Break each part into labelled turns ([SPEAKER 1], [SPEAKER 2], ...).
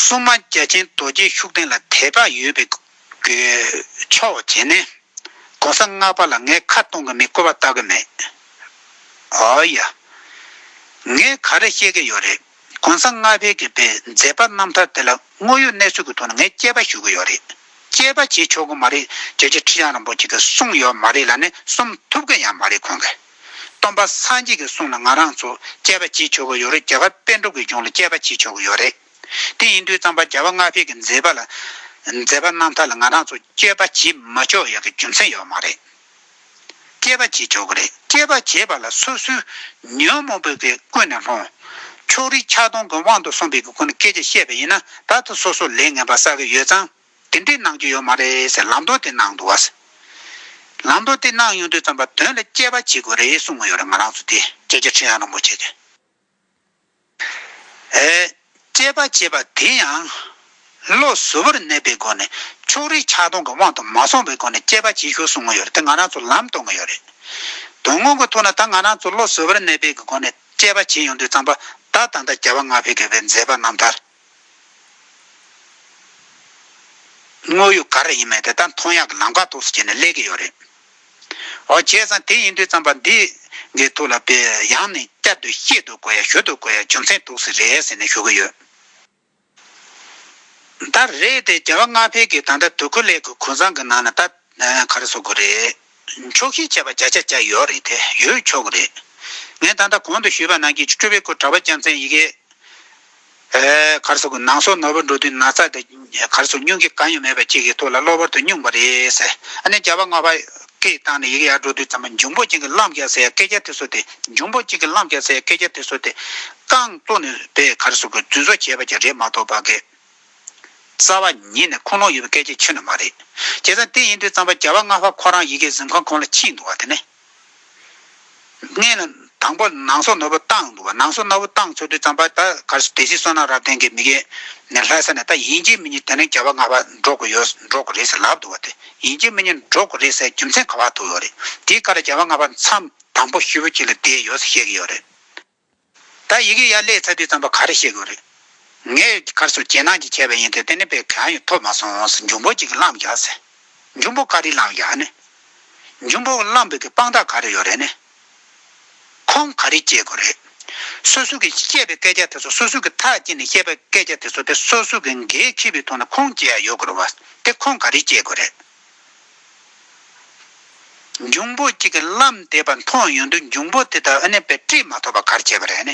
[SPEAKER 1] སྲུང་མ་རྒྱ་ཆེན་རྡོ་རྗེ་ཤུགས་ལྡན་ལ་དད་པ་ཡོད་པའི་ཕྱོགས་བྱས་ནས། གོང་ས་ལྔ་པ་ལ་ངས་ཁ་གཏོང་གི་མེད་བཀོད་པ་ལྟ་གི་མེད། ཨོ་ཡ། ངས་ག་རེ་བཤད་ཀི་ཡོད་རེད། གོང་ས་ལྔ་པའི་གི་པའི་མཛད་པ་རྣམ་ཐར་དེ་ལ་དངོས་ཡོད་གནས་ཚུལ་གི་ཐོག་ནས་ངས་དཔྱད་པ་ཞུ་གི་ཡོད་རེད། དཔྱད་པ་བྱེད་ཆོག་གི་མ་རེད་རྒྱལ་གཅེས་ཁྲི་བྱང་རིན་པོ་ཆེ་གིས་གསུངས་ཡོད་མ་རེད་ལ་ནས་གསུམ་ཐུབ་ཀི་ཡང་མ་རེད་ཁོང་གིས། སྟོན་པ་སངས་རྒྱས་ཀྱི་གསུང་ལ་ང་རང་ཚོ་དཔྱད་པ་བྱེད་ཆོག་གི་ཡོད་རེད་རྒྱ་གར་དཔེ་སྒྲོག་གི་ལྗོངས་ལ་དཔྱད་པ་བྱེད་ཆོག་གི་ཡོད་རེད། དེ་ཡིན་དུས་གཙང་པ་རྒྱལ་བ་མངའ་བྷེས་ཀྱི་མཛད་པ་ལ། མཛད་པ་རྣམ་ཐར་ལ་ང་རང་ཚོ་དཔྱད་པ་བྱེད་མ་ཆོག་ཡག་གི་རྒྱུ་མཚན་ཡོད་མ་རེད། དཔྱད་པ་བྱེད་ཆོག་གི་རེད་དཔྱད་པ་བྱེད་པ་ལ་སོ་སོའི་ཉོན་མོངས་པའི་གི་ཀུན་ནས་སློང། ཕྱོགས་རིས་ཆགས་སྡང་གི་དབང་དུ་སོང་པའི་གི་ཀུན་ནས་སྐད་ཆ་བཤད་པ་ཡིན་ན་ད་ཐོ་སོ་སོ་ལས་ངན་པ་བསགས་གི་ཡོད་ཙང། དེ་འདྲའི་གནང་རྒྱུ་ཡོད་མ་རེད་ཟེར་ལམ་སྟོན་དེ་གནང་འདུག་ཟེར། ལམ་སྟོན་དེ་གནང་ཡོང་དུས་རྩོམ་པ་དོན་ལ་དཔྱད་པ་བྱེད་དགོས་རེད་གསུང་མ་ཡོད་རེད་ང་རང་ཚོ་དེ་སྐད་ཆ་ཁྲི་ཡང་རིན་པོ་ཆེ་དེ། དཔྱད་པ་བྱེད་པ་དེ་ཡང། བློ་གཟུ་བོར་གནས་པའི་སྒོ་ནས་ཕྱོགས་རིས་ཆགས་སྡང་གི་དབང་དུ་མ་སོང་བའི་སྒོ་ནས་དཔྱད་པ་བྱེད་ཤོག་གསུང་མ་ཡོད་རེད་དེ་ང་རང་ཚོ་ལམ་སྟོན་གི་ཡོད་རེད། དོན་དངོས་ཀྱི་ཐོག་ན་ད་ང་རང་ཚོ་བློ་གཟུ་བོར་གནས་པའི་སྒོ་ནས་དཔྱད་པ་བྱེད་ཡོང་དུས་རྩོམ་པ་ད་ད་ལྟ་རྒྱལ་བ་ང་ཕོད་དགེ་བའི་མཛད་པ་རྣམ་ཐར། དངོས་ཡོད་ག་རེ་ཡིན་མིན་དེ་དག་མཐོང་ཡག་གི་ལམ་ཁ་ཐོག་སུ་བྱས་ནས་གླེགས་ཀྱི་ཡོད་རེད། འོ་བྱས་ཙང་དེ་ཡིན་དུས་རྩམ་པ་འདི་གི་ཐུགས་ལ་དཔེ་ཡང་ནས་བསྐྱར་དུ་བཤད་དུ་དགོས་ཡ་ཞུ་དུ་དགོས་ཡ་རྒྱུ་མཚན་འདུག་སི་རེད་ཟེར་ནས་ཞུ་གི་ཡོད། ད་རེས་དེ་རྒྱལ་བ་ལྔ་འཕེལ་གྱི་ད་ལྟ་དུ་ཁུ་ལས་ཀྱི་ཁུ་ཚང་གི་ནང་ནས་ད་ག་རེ་བཟོ་དགོས་རེད། མཆོག་ཤེས་བྱ་བ་བརྒྱ་ཆ་བརྒྱ་ཡོད་རེད་དེ་ཡོད་ཆོག་གི་རེད། ངས་ད་ལྟ་གོང་དུ་ཞུས་པ་ནང་གི་སྤྲུལ་པའི་སྐུ་གྲགས་པ་རྒྱལ་མཚན་ཡི་གེ། གར་སོགས་ཀྱི་ནང་སོ་ནོར་བུ་འགྲོ་དུས་ན་ཚ་དང་གར་སོགས་སྙུང་གི་གང་ཡང་མེད་པ་གཅིག་གི་ཐུགས་ལ་གློ་བུར་དུ་སྙུང་བ་རེད་ཟེར་ཨ་ནེ་རྒྱལ་བ་ལྔ་བར་སྐད་བཏང་ནས་ཡི་གེ་ཡར་འགྲོ་དུས་ཙམ་པོ་འབྱུང་པོ་གཅིག་གི་གླང་བརྒྱག་ཟེར་ཡ་སྐད་རྒྱག་དུས་སོ་དེ་འབྱུང་པོ་གཅིག་གི་གླང་བརྒྱག་ཟེར་ཡ་སྐད་རྒྱག་དུས་སོ་དེ། རྐང་བཙོག་ནས་པས་གར་སོགས་ཀྱི་རྫུན་བཟོ་བྱས་པ་གྱི་རེད་མ་གཏོགས་པ་སྐད། རྩ་བ་ཉིད་ནས་ཁུངས་ལུང་ཡོད་པའི་སྐད་ཆའི་ཆོས་ནི་མ་རེད། བྱས་ཙང་དེ་ཡིན་དུས་རྩམ་པ་རྒྱ་བ་རྔ་བ་ཁོ་རང་ཡི་གེའི་གཟིམ་ཁང་གོང་ལ་ཕྱིན་འདུག་བ་དེ་ནི་ངེས་ལ། དང་པོ་ནང་སོག་ནོར་བུ་བཏང་འདུག་བ་ནང་སོག་ནོར་བུ་བཏང་ཚུར་དུས་རྩམ་པ་ད་གར་སོ་དེ་སྲིད་བསོད་ནམས་རབ་བརྟན་གྱི་མི་རྒན་ནས་ལྷ་ས་ནས་ད་ཡིན་གྱི་མི་གཉིས་དེ་ནས་རྒྱ་བ་རྔ་བ་འགྲོ་དགོས་ཡོད་འགྲོ་དགོས་རེད་ཟེར་ལབ་འདུག་བ་དེ་ཡིན་གྱི་མི་གཉིས་འགྲོ་དགོས་རེད་ཟེར་རྒྱུ་མཚན་ག་བ་ཐུག་ཡོད་རེད་དེའི་ཁར་རྒྱ་བ་རྔ་བ་མཚམས་དང་པོ་ཤུད་བུ་གཅིག་ལ་བསྡད་ཡོད་ཟེར་བཤད་ཀྱི་ཡོད་རེད། ད་ཡི་གེ་ཡར་ལས་ཚ་དུས་ཙམ་པ་ག་རེ་བཤད་དགོས་རེད། ངས་གར་སོར་རྒྱལ་ནང་གྱི་མཁས་པ་ཡིན་ཏེ་དེ་ནས་པའི་གང་ཡང་ཐོབ་མ་སོང་ཟེར་འབྱུང་པོ་གཅིག་གིས་བླངས་བཞག་ཟེར། འབྱུང་པོ་ག་རེ་བླངས་བཞག་ནས། འབྱུང་པོ་བླངས་བོད་ཀྱི་དཔང་རྟགས་ག་རེ་ཡོད་རེད་ནས། ཁོང་ག་རེ་བྱེད་དགོས་རེད། སོ་སོ་གིས་བཤད་པའི་སྐད་ཆ་དེ་ཚོ་སོ་སོ་གིས་ཐག་བཅད་ནས་བཤད་པའི་སྐད་ཆ་དེ་ཚོ་དེ་སོ་སོ་གིས་འགན་འཁྱེར་བའི་ཐོག་ནས་ཁོང་བྱས་ཡོད་དགོས་རེད་བ། དེ་ཁོང་ག་རེ་བྱེད་དགོས་རེད། འབྱུང་པོ་གཅིག་གིས་བརླམ་བསྡད་པ་མཐོང་ཡོང་དུས་འབྱུང་པོ་དེ་དག་ཨ་ནེ་པའི་དཀྲིས་མ་ཐོབ་པར་གར་བྱས་པ་རེད།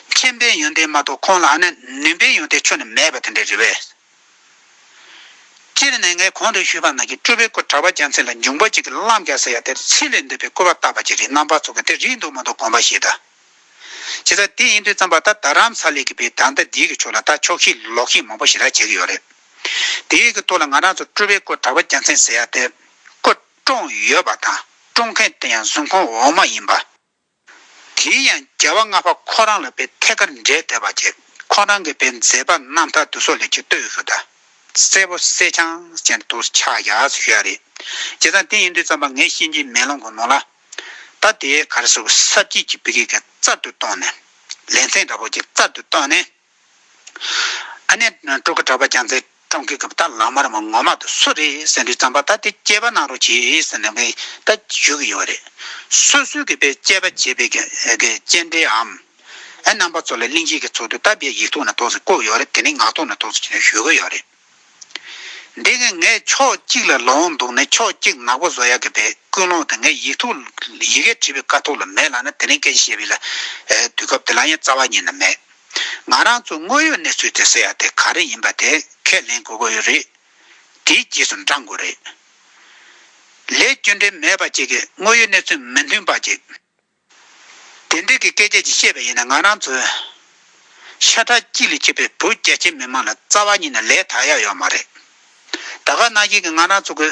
[SPEAKER 1] མཁྱེན་པའི་ཡོན་ཏན་མ་གཏོགས་ཁོང་ལ་ཨ་ནེ་ནུས་པའི་ཡོན་ཏན་ཆོས་ནས་མེད་པ་དེ་འདྲ་རེད་བས། སྤྱིར་ནས་ངས་གོང་དུ་ཞུས་པ་ནང་གི་སྤྲུལ་པའི་སྐུ་གྲགས་པ་རྒྱལ་མཚན་ལ་འབྱུང་པོ་གཅིག་གིས་བརླམ་བསྐྱལ་ཟེར་ཡ་དེར་ཕྱི་ལས་འདས་པའི་སྐུར་བ་བཏགས་པ་ཅི་རེད་རྣམ་པ་ཚོགས་ཀྱི་དེ་རིགས་འདུག་མ་འདུག་དགོངས་པ་ཞིག་གདའ། བྱས་ཙང་དེ་ཡིན་དུས་བརྩམས་པ་ད་རྡ་རམ་ས་ལའི་གི་བའི་དར་མདའ་འདིའི་གི་ཕྱོགས་ལ་ད་ཕྱོགས་ཤིག་ལོག་ཤིག་མང་པོ་ཞིག་ར་བྱེད་ཀྱི་ཡོད་རེད། དེ་ཡི་གི་ཐོག་ལ་ང་རང་ཚོ་སྤྲུལ་པའི་སྐུ་གྲགས་པ་རྒྱལ་མཚན་ཟེར་ཡ་དེ། སྐུ་བཀྲོངས་ཡོད་པ་དང་བཀྲོངས་མཁན་དེ་ཡང་གཟུགས་མཁོ་འོག་མ་ཡིན་པ། དེའི་ཡང་རྒྱལ་བ་ལྔ་པ་ཁོ་རང་ལ་པའི་ཐད་ཀར་འབྲེལ་བསྡད་པ་ཀྱི་ཁོ་རང་གི་པའི་མཛད་པ་རྣམ་དག་དུ་སོག་ལེ་ཀྱི་སྟོད་ཧུ་ད། སེར་པོ་སེར་ཆང་ཅན་དུ་ཆགས་ཡ་ཞུ་ཡ་རེད། བྱས་ཙང་དེ་ཡིན་དུས་ཙམ་པ་ངའི་གཤིན་རྗེའི་མེ་ལོང་གི་ནོར་ལ། ད་དེའི་གར་སོག་གི་ས་བརྒྱད་ཀྱི་པི་ཀི་ཀ་རྩར་དུ་བཏོན་ནས། ལེ་མཚན་འདྲ་པོ་ཀྱི་རྩར་དུ་བཏོན་ནས། ཨ་ནེ་སྤྲུལ་སྐུ་གྲགས་པ་རྒྱ་མཚོས་ཀྲོང་གིས་གུཔྟ་ལག་དམར་མོ་ངོ་མ་དུ་སུ་རེད་ཟེར་དུས་རྩམ་པ་ད་དེ་སྐྱེས་པ་གནང་རོགས་གྱིས་ཟེར་ནས་ད་བཞུགས་ཀྱི་ཡོད་རེད། སོ་སོའི་གུས་པས་དཔྱད་པ་བྱས་པའི་དཔྱད་འབྲེལ་འམ། རྣམ་པ་ཚོ་ལ་གླིང་གཞིས་ཀྱི་ཚོགས་འདུ་སྟབས་བདེ་ཡིག་ཐོག་ནས་ཐོགས་ཟིན་བཀོད་ཡོད་རེད་དེ་ནས་ངག་ཐོག་ནས་ཐོགས་ཟིན་ཞུ་གི་ཡོད་རེད། འདི་ངས་ངས་ཕྱོགས་གཅིག་ལ་ལོང་འདུག་ནས་ཕྱོགས་གཅིག་ནག་པོ་བཟོ་ཡག་གི་པའི་ཀུན་སློང་དེ་ངས་ཡིག་ཐོག་ཡི་གེ་བྲིས་པའི་དཀའ་ཐུག་ལ་མེད་ལགས་ན་དེ་རིང་སྐད་ཆ་བཤད་པའི་ལ་དུས་སྐབས་དེ་ལ་ཡང་རྩ་བ་ཉིད་ན་མེད། ང་རང་ཚོ་དངོས་ཡོད་གནས་ཚུལ་དེ་ཟེར་ཡག་དེ་ག་རེ་ཡིན་པ་དེ་ཁས་ལེན་དགོས་ཀྱི་ཡོད་རེད། དེའི་རྗེས་སུ་འབྲང་དགོས་རེད། ལས་སྐྱོན་འབྲེལ་མེད་པ་བཅས་ཀྱི་དངོས་ཡོད་གནས་ཚུལ་མི་མཐུན་པ་བཅས། དེ་འདྲ་གི་སྐད་ཆ་ཅིག་བཤད་པ་ཡིན་ན་ང་རང་ཚོའི། ཤ་ཁྲག་གཅིག་ལས་ཆད་པའི་བོད་རྒྱ་ཆེ་མི་དམངས་ལ་རྩ་བ་ཉིད་ནས་ལས་དག་ཡག་ཡོད་མ་རེད། ད་ག་ནང་བཞིན་གི་ང་རང་ཚོ་གུ་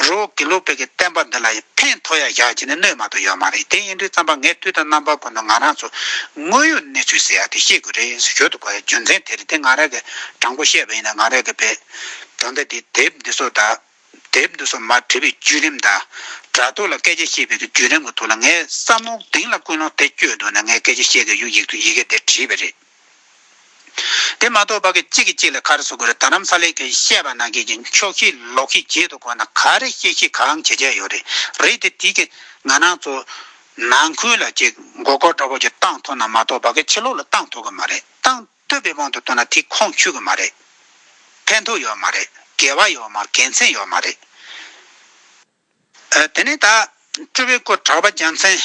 [SPEAKER 1] རུ་དགེ་ལུགས་བོད་ཀྱི་བསྟན་པ་འདི་ལ་ཕན་ཐོག་ཡག་བཞག་བྱས་ནས་གནོད་མ་ཐུབ་ཡོད་མ་རེད་དེ་ཡིན་དུས་རྩམ་པ་ངས་དུས་དང་རྣམ་པ་ཀུན་ཏུ་ང་རང་ཚོ་དངོས་ཡོད་གནས་ཚུལ་ཟེར་ཡག་དེ་བཤད་དགོས་རེད་ཟེར་ཞོར་དུ་གོ་ཡ་རྒྱུ་མཚན་དེ་རེད་དེ་ང་རང་གི་དྲང་པོ་བཤད་པ་ཡིན་ན་ང་རང་གི་བེད་དོ་འདི་དེབ་འདི་སོགས་དག་དེབ་འདི་སོགས་མར་བྲིས་པའི་བརྒྱུད་རིམ་དང། དྲ་ཐོག་ལ་སྐད་ཆ་བཤད་པའི་བརྒྱུད་རིམ་གྱི་ཐོག་ལ་ངའི་བསམ་བློ་གདེང་ལ་ཀུན་སློང་དེ་བསྐྱོད་འདུག་ན་ངས་སྐད་ཆ་བཤད་དགོས་བརྒྱུད་ཡིག་ཏུ་ཡི་གེ་འདིར་བྲིས་པ་རེད། དེ་མ་གཏོགས་བ་གི་གཅིག་གི་གཅིག་ལ་ཁར་བཟོ་དགོས་རེད་ད་ནམ་ས་ལེ་ཁའི་བཤད་པ་ནང་གི་ཀྱི་ཕྱོགས་ཤིག་ལོག་ཤིག་བརྗེད་དུ་དགོས་ན་ག་རེ་བཤད་ཤིག་གང་བྱེད་བྱས་ཡོད་རེད་རེད་དེ་དེ་གི་ང་ནང་ཚོ་ནང་ཁུལ་ལ་ཅིག་མགོ་སྐོར་འདྲ་བོ་ཅིག་བཏང་ཐོག་ན་མ་གཏོགས་བ་གི་ཕྱི་ལོག་ལ་བཏང་ཐོག་གི་མ་རེད་བཏང། བསྟོད་པའི་དབང་དུ་བཏང་ན་དེ་ཁོངས་ཆུད་གི་མ་རེད། ཕན་ཐོགས་ཡོད་མ་རེད། དགེ་བ་ཡོད་མ་དགེ་མཚན་ཡོད་མ་རེད། དེ་ནས་ད། སྤྲུལ་པའི་སྐུ་གྲགས་པ་རྒྱལ་མཚན།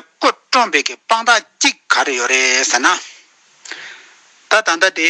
[SPEAKER 1] སྐུ་བཀྲོངས་པའི་གི་དཔང་རྟགས་གཅིག་ག་རེ་ཡོད་རེད་ཟེར་ན། ད་ད་ལྟ་དེ་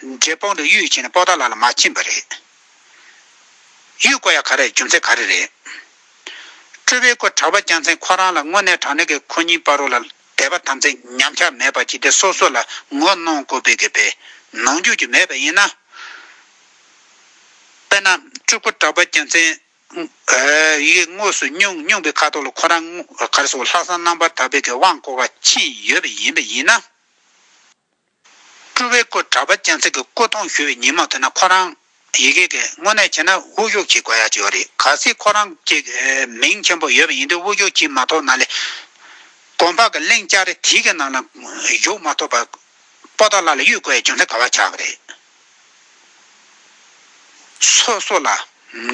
[SPEAKER 1] འབྲས་སྤུངས་དུ་གཡུ་ཡི་བྱིན་སྤོགས་བདག་ལ་ལ་མ་བྱིན་པ་རེད། གཡུ་བརྐོ་ཡ་ག་རེ་རྒྱུ་མཚན་ག་རེ་རེད། སྤྲུལ་པའི་སྐུ་གྲགས་པ་རྒྱལ་མཚན་ཁོ་རང་ལ་དངོས་གནས་དྲང་གནས་ཀྱི་ཁོ་གཉིས་པ་རུ་ལ་དད་པ་དམ་ཚིག་ཉམས་ཆག་མེད་པར་བྱས་ཏེ་སོ་སོ་ལ་ངོ་གནོང་བསྐུར་བས་དགོས་པའི་ནོངས་འགྱོད་ཀྱི་མེད་པ་ཡིན་ན། དཔེར་ན་སྤྲུལ་སྐུ་གྲགས་པ་རྒྱལ་མཚན་ཡིས་དངོས་སུ་སྨྱུང་སྨྱུང་པའི་ཁ་དོག་ལ་ཁོ་རང་གར་སོང་ལྷག་བསམ་རྣམ་པར་དག་པའི་དབང་བསྐུར་བ་ཕྱིན་ཡོད་པ་ཡིན་པ་ཡིན་ན། སྤྲུལ་བའི་སྐུ་གྲགས་པ་སྤྱན་གཟིགས་ཀྱི་སྐུ་མཐོང་ཞུ་བའི་ཉིན་མ་ཐོན་ན་ཁོ་རང། ཡི་གེ་གིས་དངོས་གནས་བྱས་ན་དབུ་བཞུགས་བྱེད་དགོས་ཡ་ཅི་ཡོད་རེད་ག་སྲིད་ཁོ་རང་གཅིག་མིང་ཆེན་པོ་ཡོད་པ་ཡིན་དུས་དབུ་བཞུགས་བྱེད་མ་ཐོབ་ན་ལས་གོང་འཕགས་ཀྱི་གླིང་ལྕགས་རི་དེ་གི་ནང་ན་བཞུགས་མ་ཐོབ་པར་པོ་ཏོ་ལ་ལ་གཡུལ་དགོས་ཡ་ཅུང་ཟད་ག་བ་ཆགས་གི་རེད། སོ་སོ་ལ་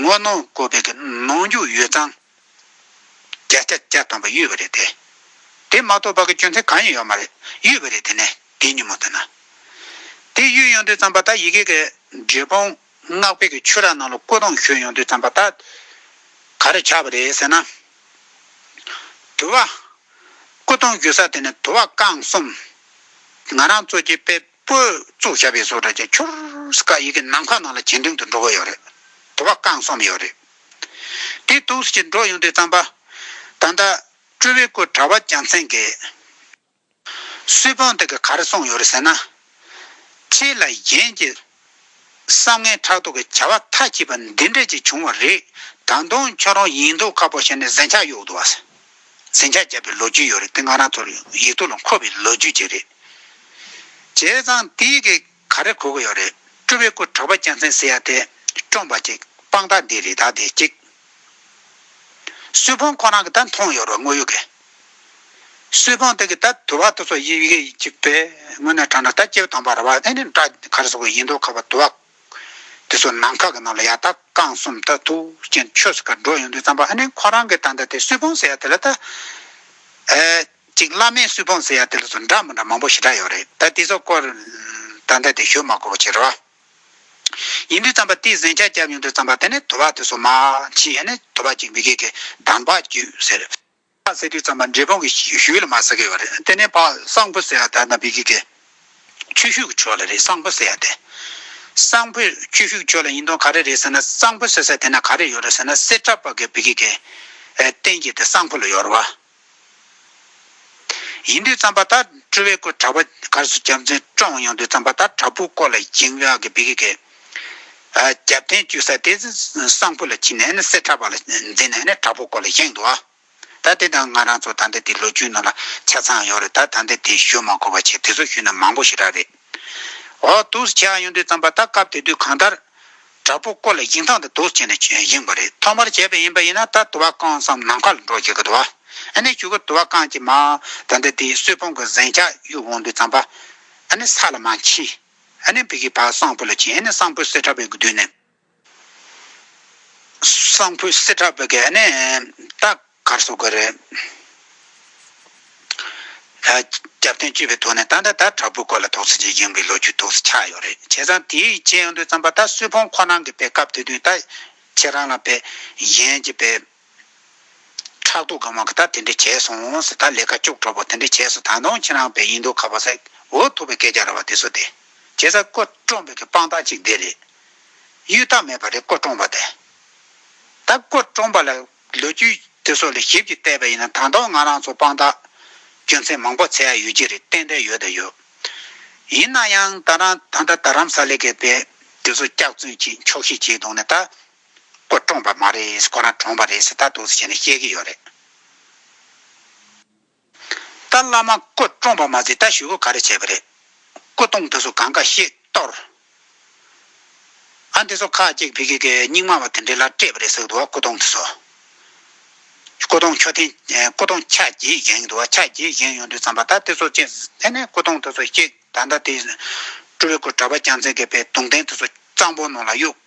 [SPEAKER 1] ངོ་གནོང་དགོས་པའི་གི་ནོངས་འགྱུ་ཡོད་ཙང། བརྒྱ་ཆ་བརྒྱ་སྟོང་པ་གཡོས་པ་རེད་དེ། དེ་མ་གཏོགས་པ་ཀྱི་སྐྱོན་ཚད་གང་ཡང་ཡོད་མ་རེད་གཡོས་པ་རེད་དེ་ནས་དེ་ཉིན་མོ་དེ་ན། དེ་གཡོས་ཡོང་དུས་བརྩམས་པ་ད་ཡི་གེ་གི་འབྲས་སྤུངས་སྔགས་དཔེ་གི་ཆོས་ར་ནང་ལ་བཀོད་གཏོང་ཞུས་ཡོང་དུས་བརྩམས་པ་ད་ག་རེ་ཆགས་པ་རེད་ཟེར་ན། དུ་བ། བཀོད་གཏོང་ཞུས་ས་དེ་ནི་དུ་བ་རྐང་གསུམ། ང་རང་གཙོ་གྱི་དཔེ། པོའི་གཙུག་བྱ་བའི་བཟོ་གྲྭ་ཅན་ཁྱོར་སི་ཀ་ཡི་གི་ནམ་མཁའ་ནང་ལ་གྱེན་འགྲེང་དུ་འགྲོ་གི་ཡོད་རེད། དེ་བ་རྐང་གསུམ་ཡོད་རེད། དེ་ཏུའུ་སི་ཅི་འགྲོ་ཡོང་དུས་རྩམ་པ། ད་ལྟ། སྤྲུལ་བའི་སྐུ་གྲྭ་བ་རྒྱལ་མཚན་གྱི། སུས་བོན་དེ་གི་ག་རེ་གསུངས་ཡོད་རེད་ཟེར་ན། ཁྱེད་ལ་གཞན་གྱི། བསམ་ངན་ཕྲག་དོག་གི་བྱ་བ་མཐའ་གཅིག་པ་འདི་འདྲས་ཅིག་བྱུང་བ་རེད། ད་དུང་ཁྱོད་རང་ཡིན་མདོག་ཁ་པོ་བྱས་ནས་གཟན་ཆག་གཡུག་འདུག་བ་ཟེར། ཟིང་ཆ་བརྒྱབ་པའི་ལོ་རྒྱུས་ཡོད་རེད་དེ་ང་རང་ཚོར་ཡིག་ཐོག་ལ་འཁོད་པའི་ལོ་རྒྱུས་ཅིག་རེད། བྱས་ཙང་དེའི་གེ་ག་རེ་གོ་གི་ཡོད་རེད་སྤྲུལ་བའི་སྐུ་གྲགས་པ་རྒྱལ་མཚན་ཟེར་ཡ་དེ་བཀྲོངས་པ་ཅིག་དཔང་རྟགས་འདི་རེད་ད་དེ་གཅིག། སུའི་ཕོང་ཁོ་རང་གི་ད་མཐོང་ཡོད་རེད་བ་དངོས་ཡོད་གི། སུའི་ཕོང་དེ་གི་ད་དུ་བ་དོ་ཚོ་ཡི་གེ་གཅིག་པའི་ངོས་ནས་དྲངས་ན་ད་སྐྱེ་བོ་དང་པ་ར་བ་ཨེ་ནི་འདྲ་ག་རེ་སོགས་ཡིན་འདུག་ག་བ་དུ་བ། དེ་ཚོ་ནམ་མཁའ་གི་ནང་ལ་ཡར་ལྟ་རྐང་གསུམ་ལྟ་ཐུགས་ཅན་ཆོས་སུ་གར་འགྲོ་ཡོང་དུས་བརྩམས་པ་ཨ་ནེ་ཁོ་རང་གི་ད་ལྟ་དེ་སུས་ཕོངས་ཟེར་ཡ་དེ་ལ་ལྟ། ཅིག་བླ་མས་སུས་ཕོངས་ཟེར་ཡ་དེ་ལ་ཚོ་འདྲ་མི་འདྲ་མང་པོ་ཞེ་དྲག་ཡོད་རེད་ད་དེ་ཚོ་སྐོར་ད་ལྟ་དེ་ཞུ་མ་དགོས་པ་བྱེད་རོགས། ཡིན་དུས་བརྩམས་པ་དེས་གཟན་ཆག་བརྒྱབ་ཡོང་དུས་བརྩམས་པ་དེ་ནས་དུ་བ་དེ་ཚོ་མ་མཆིས་ཡ་ནི་དུ་བ་ཅིག་མི་དགེ་གི་གདམས་པ་བརྒྱུད་ཟེར། ཕག་ཟེར་དུས་ཙམ་མ་འབྲས་སྤུངས་ཀྱི་ཞུས་ལ་མ་ཟེར་གི་ཡོད་རེད་དེ་ནས་ཕག་སངས་བུ་ཟེར་ཡ་དར་ན་བི་གི་གེ། ཆུ་ཤུག་གི་ཆོས་ལ་རེད་སངས་བུ་ཟེར་ཡ་དེ། སངས་བུ་ཆུ་ཤུག་ཆོས་ལ་ཡིན་དོན་ག་རེ་རེད་ཟེར་ན་སངས་བུ་ཟེར་ས་དེ་ན་ག་རེ་ཡོད་རེད་ཟེར་ན་སེར་ཁྲ་པ་གི་བི་གི་གེ། བསྟན་རྒྱས་དེ་སངས་བུ་ལ་ཡོད་རེད་བ། ཡིན་དུས་ཙམ་པ་ད་སྤྲུལ་བའི་སྐུ་གྲགས་པ་གར་སོ་རྒྱབ་མཚན་བཀྲོངས་ཡོང་དུས་ཙམ་པ་ད་དྲ་འབུ་སྐོར་ལ་འགྱིང་བ་གི་བི་གི་གེ། རྒྱབ་རྟེན་བཅོས་ས་དེ་གསང་ཕུ་ལ་ཕྱིན་ནས་ནི་སེར་ཁྲ་བ་ལ་འཛེགས་ནས་ནི་དྲག་པོ་སྐོར་ལ་བཞེངས་འདུག་ད་དེ་དང་ང་རང་ཚོ་ད་ལྟ་དེ་ལོ་བཅུའི་ནང་ལ་ཆ་ཚང་ཡོང་རེད་ད་ད་ལྟ་དེ་ཞུ་མ་གོ་བ་ཆེ་དེ་ཚོ་ཞུས་ན་མང་པོ་ཞིག་རག་རེད། འོ་དུག་སེལ་བྱེད་ཡོང་དུས་བརྩམས་པ་ད་སྐབས་དེ་དུས་གང་ལྟར། དྲག་པོ་སྐོར་ལ་བཞེངས་སྟངས་དེ་དུག་སེལ་བྱེད་ནས་བཞེངས་པ་རེད་ཐོག་མར་བྱས་པ་ཡིན་པ་ཡིན་ན་ད་དུ་བ་རྐང་བསམ་ནམ་མཁའ་ལ་འགྲོ་བྱེད་ཀྱི་འདུག་ཨ་ནི་ཞུ་གི་དུ་བ་རྐང་གཅིག་མ་ད་ལྟ་དེ་གསོད་ཕོང་གི་གཟན་ཆག་གཡུག་འོང་དུས་བརྩམས་པ་ཨ་ནི་ས་ལ་མ་མཆིས། ཨ་ནི་བི་གི་བ་སངས་བུ་ལ་བྱིན་ཨ་ནི་སངས་བུ་སེ་ཏྲ་བི་གི་མདུན་ནས། སངས་བུ་སེ་ཏྲ་བི་གི་ཨ་ནི་ཏཱ་གར་སོ་གུ་རི། རྒྱབ་བརྟེན་བཅུ་བའི་ཐོག་ནས་ཏཱ་ནི་ཏཱ་དྲ་བུ་སྐོར་ལ་དོགས་སེ་ཅི་ཡིན་གི་ལོ་རྒྱུས་དོགས་སེ་ཆགས་ཡོད་རེད་བྱས་ཙང་དེའི་རྗེས་ཡང་དུ་བརྩམས་པ་ད་སུས་ཕོང་ཁོ་ན་གི་བའི་སྐབས་དེ་དུས་ད་ཁྱེད་རང་ལ་བའི་ཡན་གྱི་བའི། ཕྲག་དོག་གམ་ག་ད་དེ་འདྲས་བྱས་སོང་ཟེ་ད་ལས་ཀ་ཅུག་གྲོགས་པོ་དེ་འདྲས་བྱས་སོ་ད་དུང་ཁྱེད་རང་བས་ཡིན་འདུག་ག་བ་ས་འོ་ཐུག་པའི་སྐད་ཆ་ར་བ་དེ་སོ་དེ། བྱས་ས་ཀོ་ཀྲོང་བོད་ཀྱི་དཔང་རྟགས་ཅིག་འདི་རེད། གཡུལ་རྟགས་མེད་པ་རེད་ཀོ་ཀྲོང་བ་དེ། ད་ཀོ་ཀྲོང་བ་ལ་ལོ་རྒྱུས་དེ་སོ་ལས་ཞིབ་ཀྱིས་བལྟས་པ་ཡིན་ན་ད་དུང་ང་རང་ཚོ་དཔང་རྟགས་རྒྱུ་མཚན་མང་པོ་ཚད་ཡ་ཡོད་ཀྱི་རེད་ཏན་ཏན་ཡོད་དང་ཡོད། ཡིན་ན་ཡང་ད་རང་ད་ད་རམ་ས་ལེ་ཀའི་བས་དེ་སོ་སྐྱག་རྫུན་གྱིས་འཁྱོག་ཤིག་བྱས་དུང་ནས་ད། ཁོ་བཀྲོངས་པ་མ་རེད་ཁོ་རང་གྲོངས་པ་རེད་ད་དུ་བྱས་ནས་བཤད་ཀྱི་ཡོད་རེད། ད་བླ་མ་ཁོ་བཀྲོངས་པ་མ་ཟིག་ད་ཞུ་བོ་ག་རེ་བྱས་པ་རེད། ཁོ་བཏུང་དེ་ཚོ་གང་ག་ཤེས་གཏོར། ཨ་འདི་ཚོ་ཁ་ཅིག་བྷི་གི་གི་རྙིང་མ་བ་དེ་འདྲས་ལ་སྤྲད་པ་རེད་ཟེར་གི་འདུག་བ་ཁོ་བཏུང་དེ་ཚོ། ཁོ་བཏུང་ཁྱོ་ཐེན་ཁོ་བཏུང་ཆ་རྒྱས་བཞེངས་གི་འདུག་བ་ཆ་རྒྱས་བཞེངས་ཡོང་དུས་བརྩམས་པ་ད་དེ་ཚོ་ཅི་ཐེན་ནས་ཁོ་བཏུང་དེ་ཚོ་གཅིག་ད་ད་དེ། སྤྲུལ་བའི་སྐུ་གྲ་པ་རྐྱང་ཚེ་དགེ་བེ་དུང་ལྡན་དེ་ཚོ་གཙང་པོ་ནང་ལ་གཡུགས།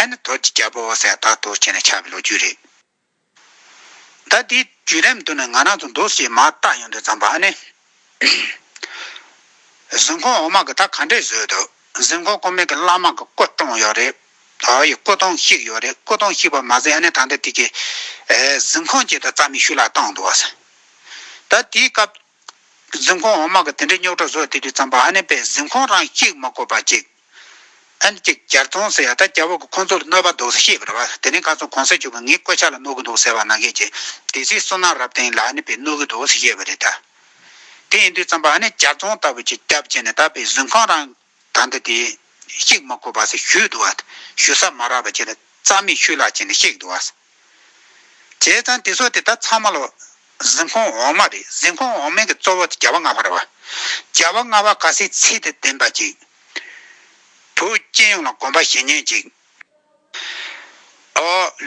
[SPEAKER 1] ཨ་ནི་དོལ་གྱི་རྒྱལ་པོ་ཨོ་སའི་དག་ཐོ་བྱས་ནས་ཆགས་པའི་ལོ་རྒྱུས་རེད། ད་དེའི་བརྒྱུད་རིམ་དུ་ནི་ང་རང་ཚོ་འདུག་སའི་མ་བརྟག་ཡོང་དུས་ཙམ་པ་ཨ་ནི། གཟིམ་ཁང་འོག་མ་གི་ད་ག་འདྲས་བཟོས་འདུག་གཟིམ་ཁང་ཀོ་མེད་གི་བླ་མ་གི་སྐུ་བཀྲོངས་ཡོད་རེད། དོལ་ཡི་སྐུ་ཐང་བཤིག་ཡོད་རེད་སྐུ་ཐང་བཤིག་པ་མ་ཟད་ཨ་ནི་ད་ལྟ་དེ་གི། གཟིམ་ཁང་བཅས་ད་རྩ་མེད་ཤུལ་ལ་བཏང་འདུག་བ་ས། ད་དེའི་སྐབས། གཟིམ་ཁང་འོག་མ་གི་དེ་འདྲའི་རྙོག་དྲ་བཟོ་དེ་དུས་ཙམ་པ་ཨ་ནེ་པས་གཟིམ་ཁང་རང་གཅིག་མ་བཀོད་པ་གཅིག་ཨན་གཅིག་གྱར་ཐོང་ཟེར་ཡ་ད་སྐྱ་བོ་གི་ཁོང་ཚོ་ལ་གནོད་པ་འདུག་ཟེར་ཤེས་པར་བ་དེ་རིང་ག་ཚོད་གོང་ས་བྱུང་གི་ངའི་བཀོད་ཆ་ལ་གནོད་གི་འདུག་ཟེར་བ་ནང་གས་ཀྱི་དེ་སྲིད་སོ་ནག་རབ་དེང་ལ་ཨ་ནེ་པས་གནོད་གི་འདུག་ཟེར་ཤེས་པ་རེད་ད། དེ་ཡིན་དུས་ཙམ་པ་ཨ་ནེ་གྱར་ཐོང་ལྟ་བུ་གཅིག་སྐྱབས་བྱས་ནས་ད་པའི་གཟིམ་ཁང་རང། དང་འདི་དེ། གཅིག་མ་གོ་བར་ཞུས་བསྡུ་བ། ཞུ་ས་མ་རག་པ་བྱས་ལ་རྩ་མེད་ཆུ་ལག་བྱས་ནས་གཤེགས་བསྡུ་བ། བྱས་ཙང་དེ་སོགས་དེ་ལྟར་ཚང་མ་ལ། གཟིམས་ཁང་འོག་མ་རེ་གཟིམས་ཁང་འོག་མན་གྱི་གཙོ་བོ་བརྒྱ་བ་ལྔ་བར་བ། བརྒྱ་བ་ལྔ་བ་ག་སའི་ཚེ་དེ་བདེན་པ་ཅིག། བུ་སྐྱེས་ཡོངས་ལ་བསྒོམ་པ་བཞི་ཉོན་ཅིག།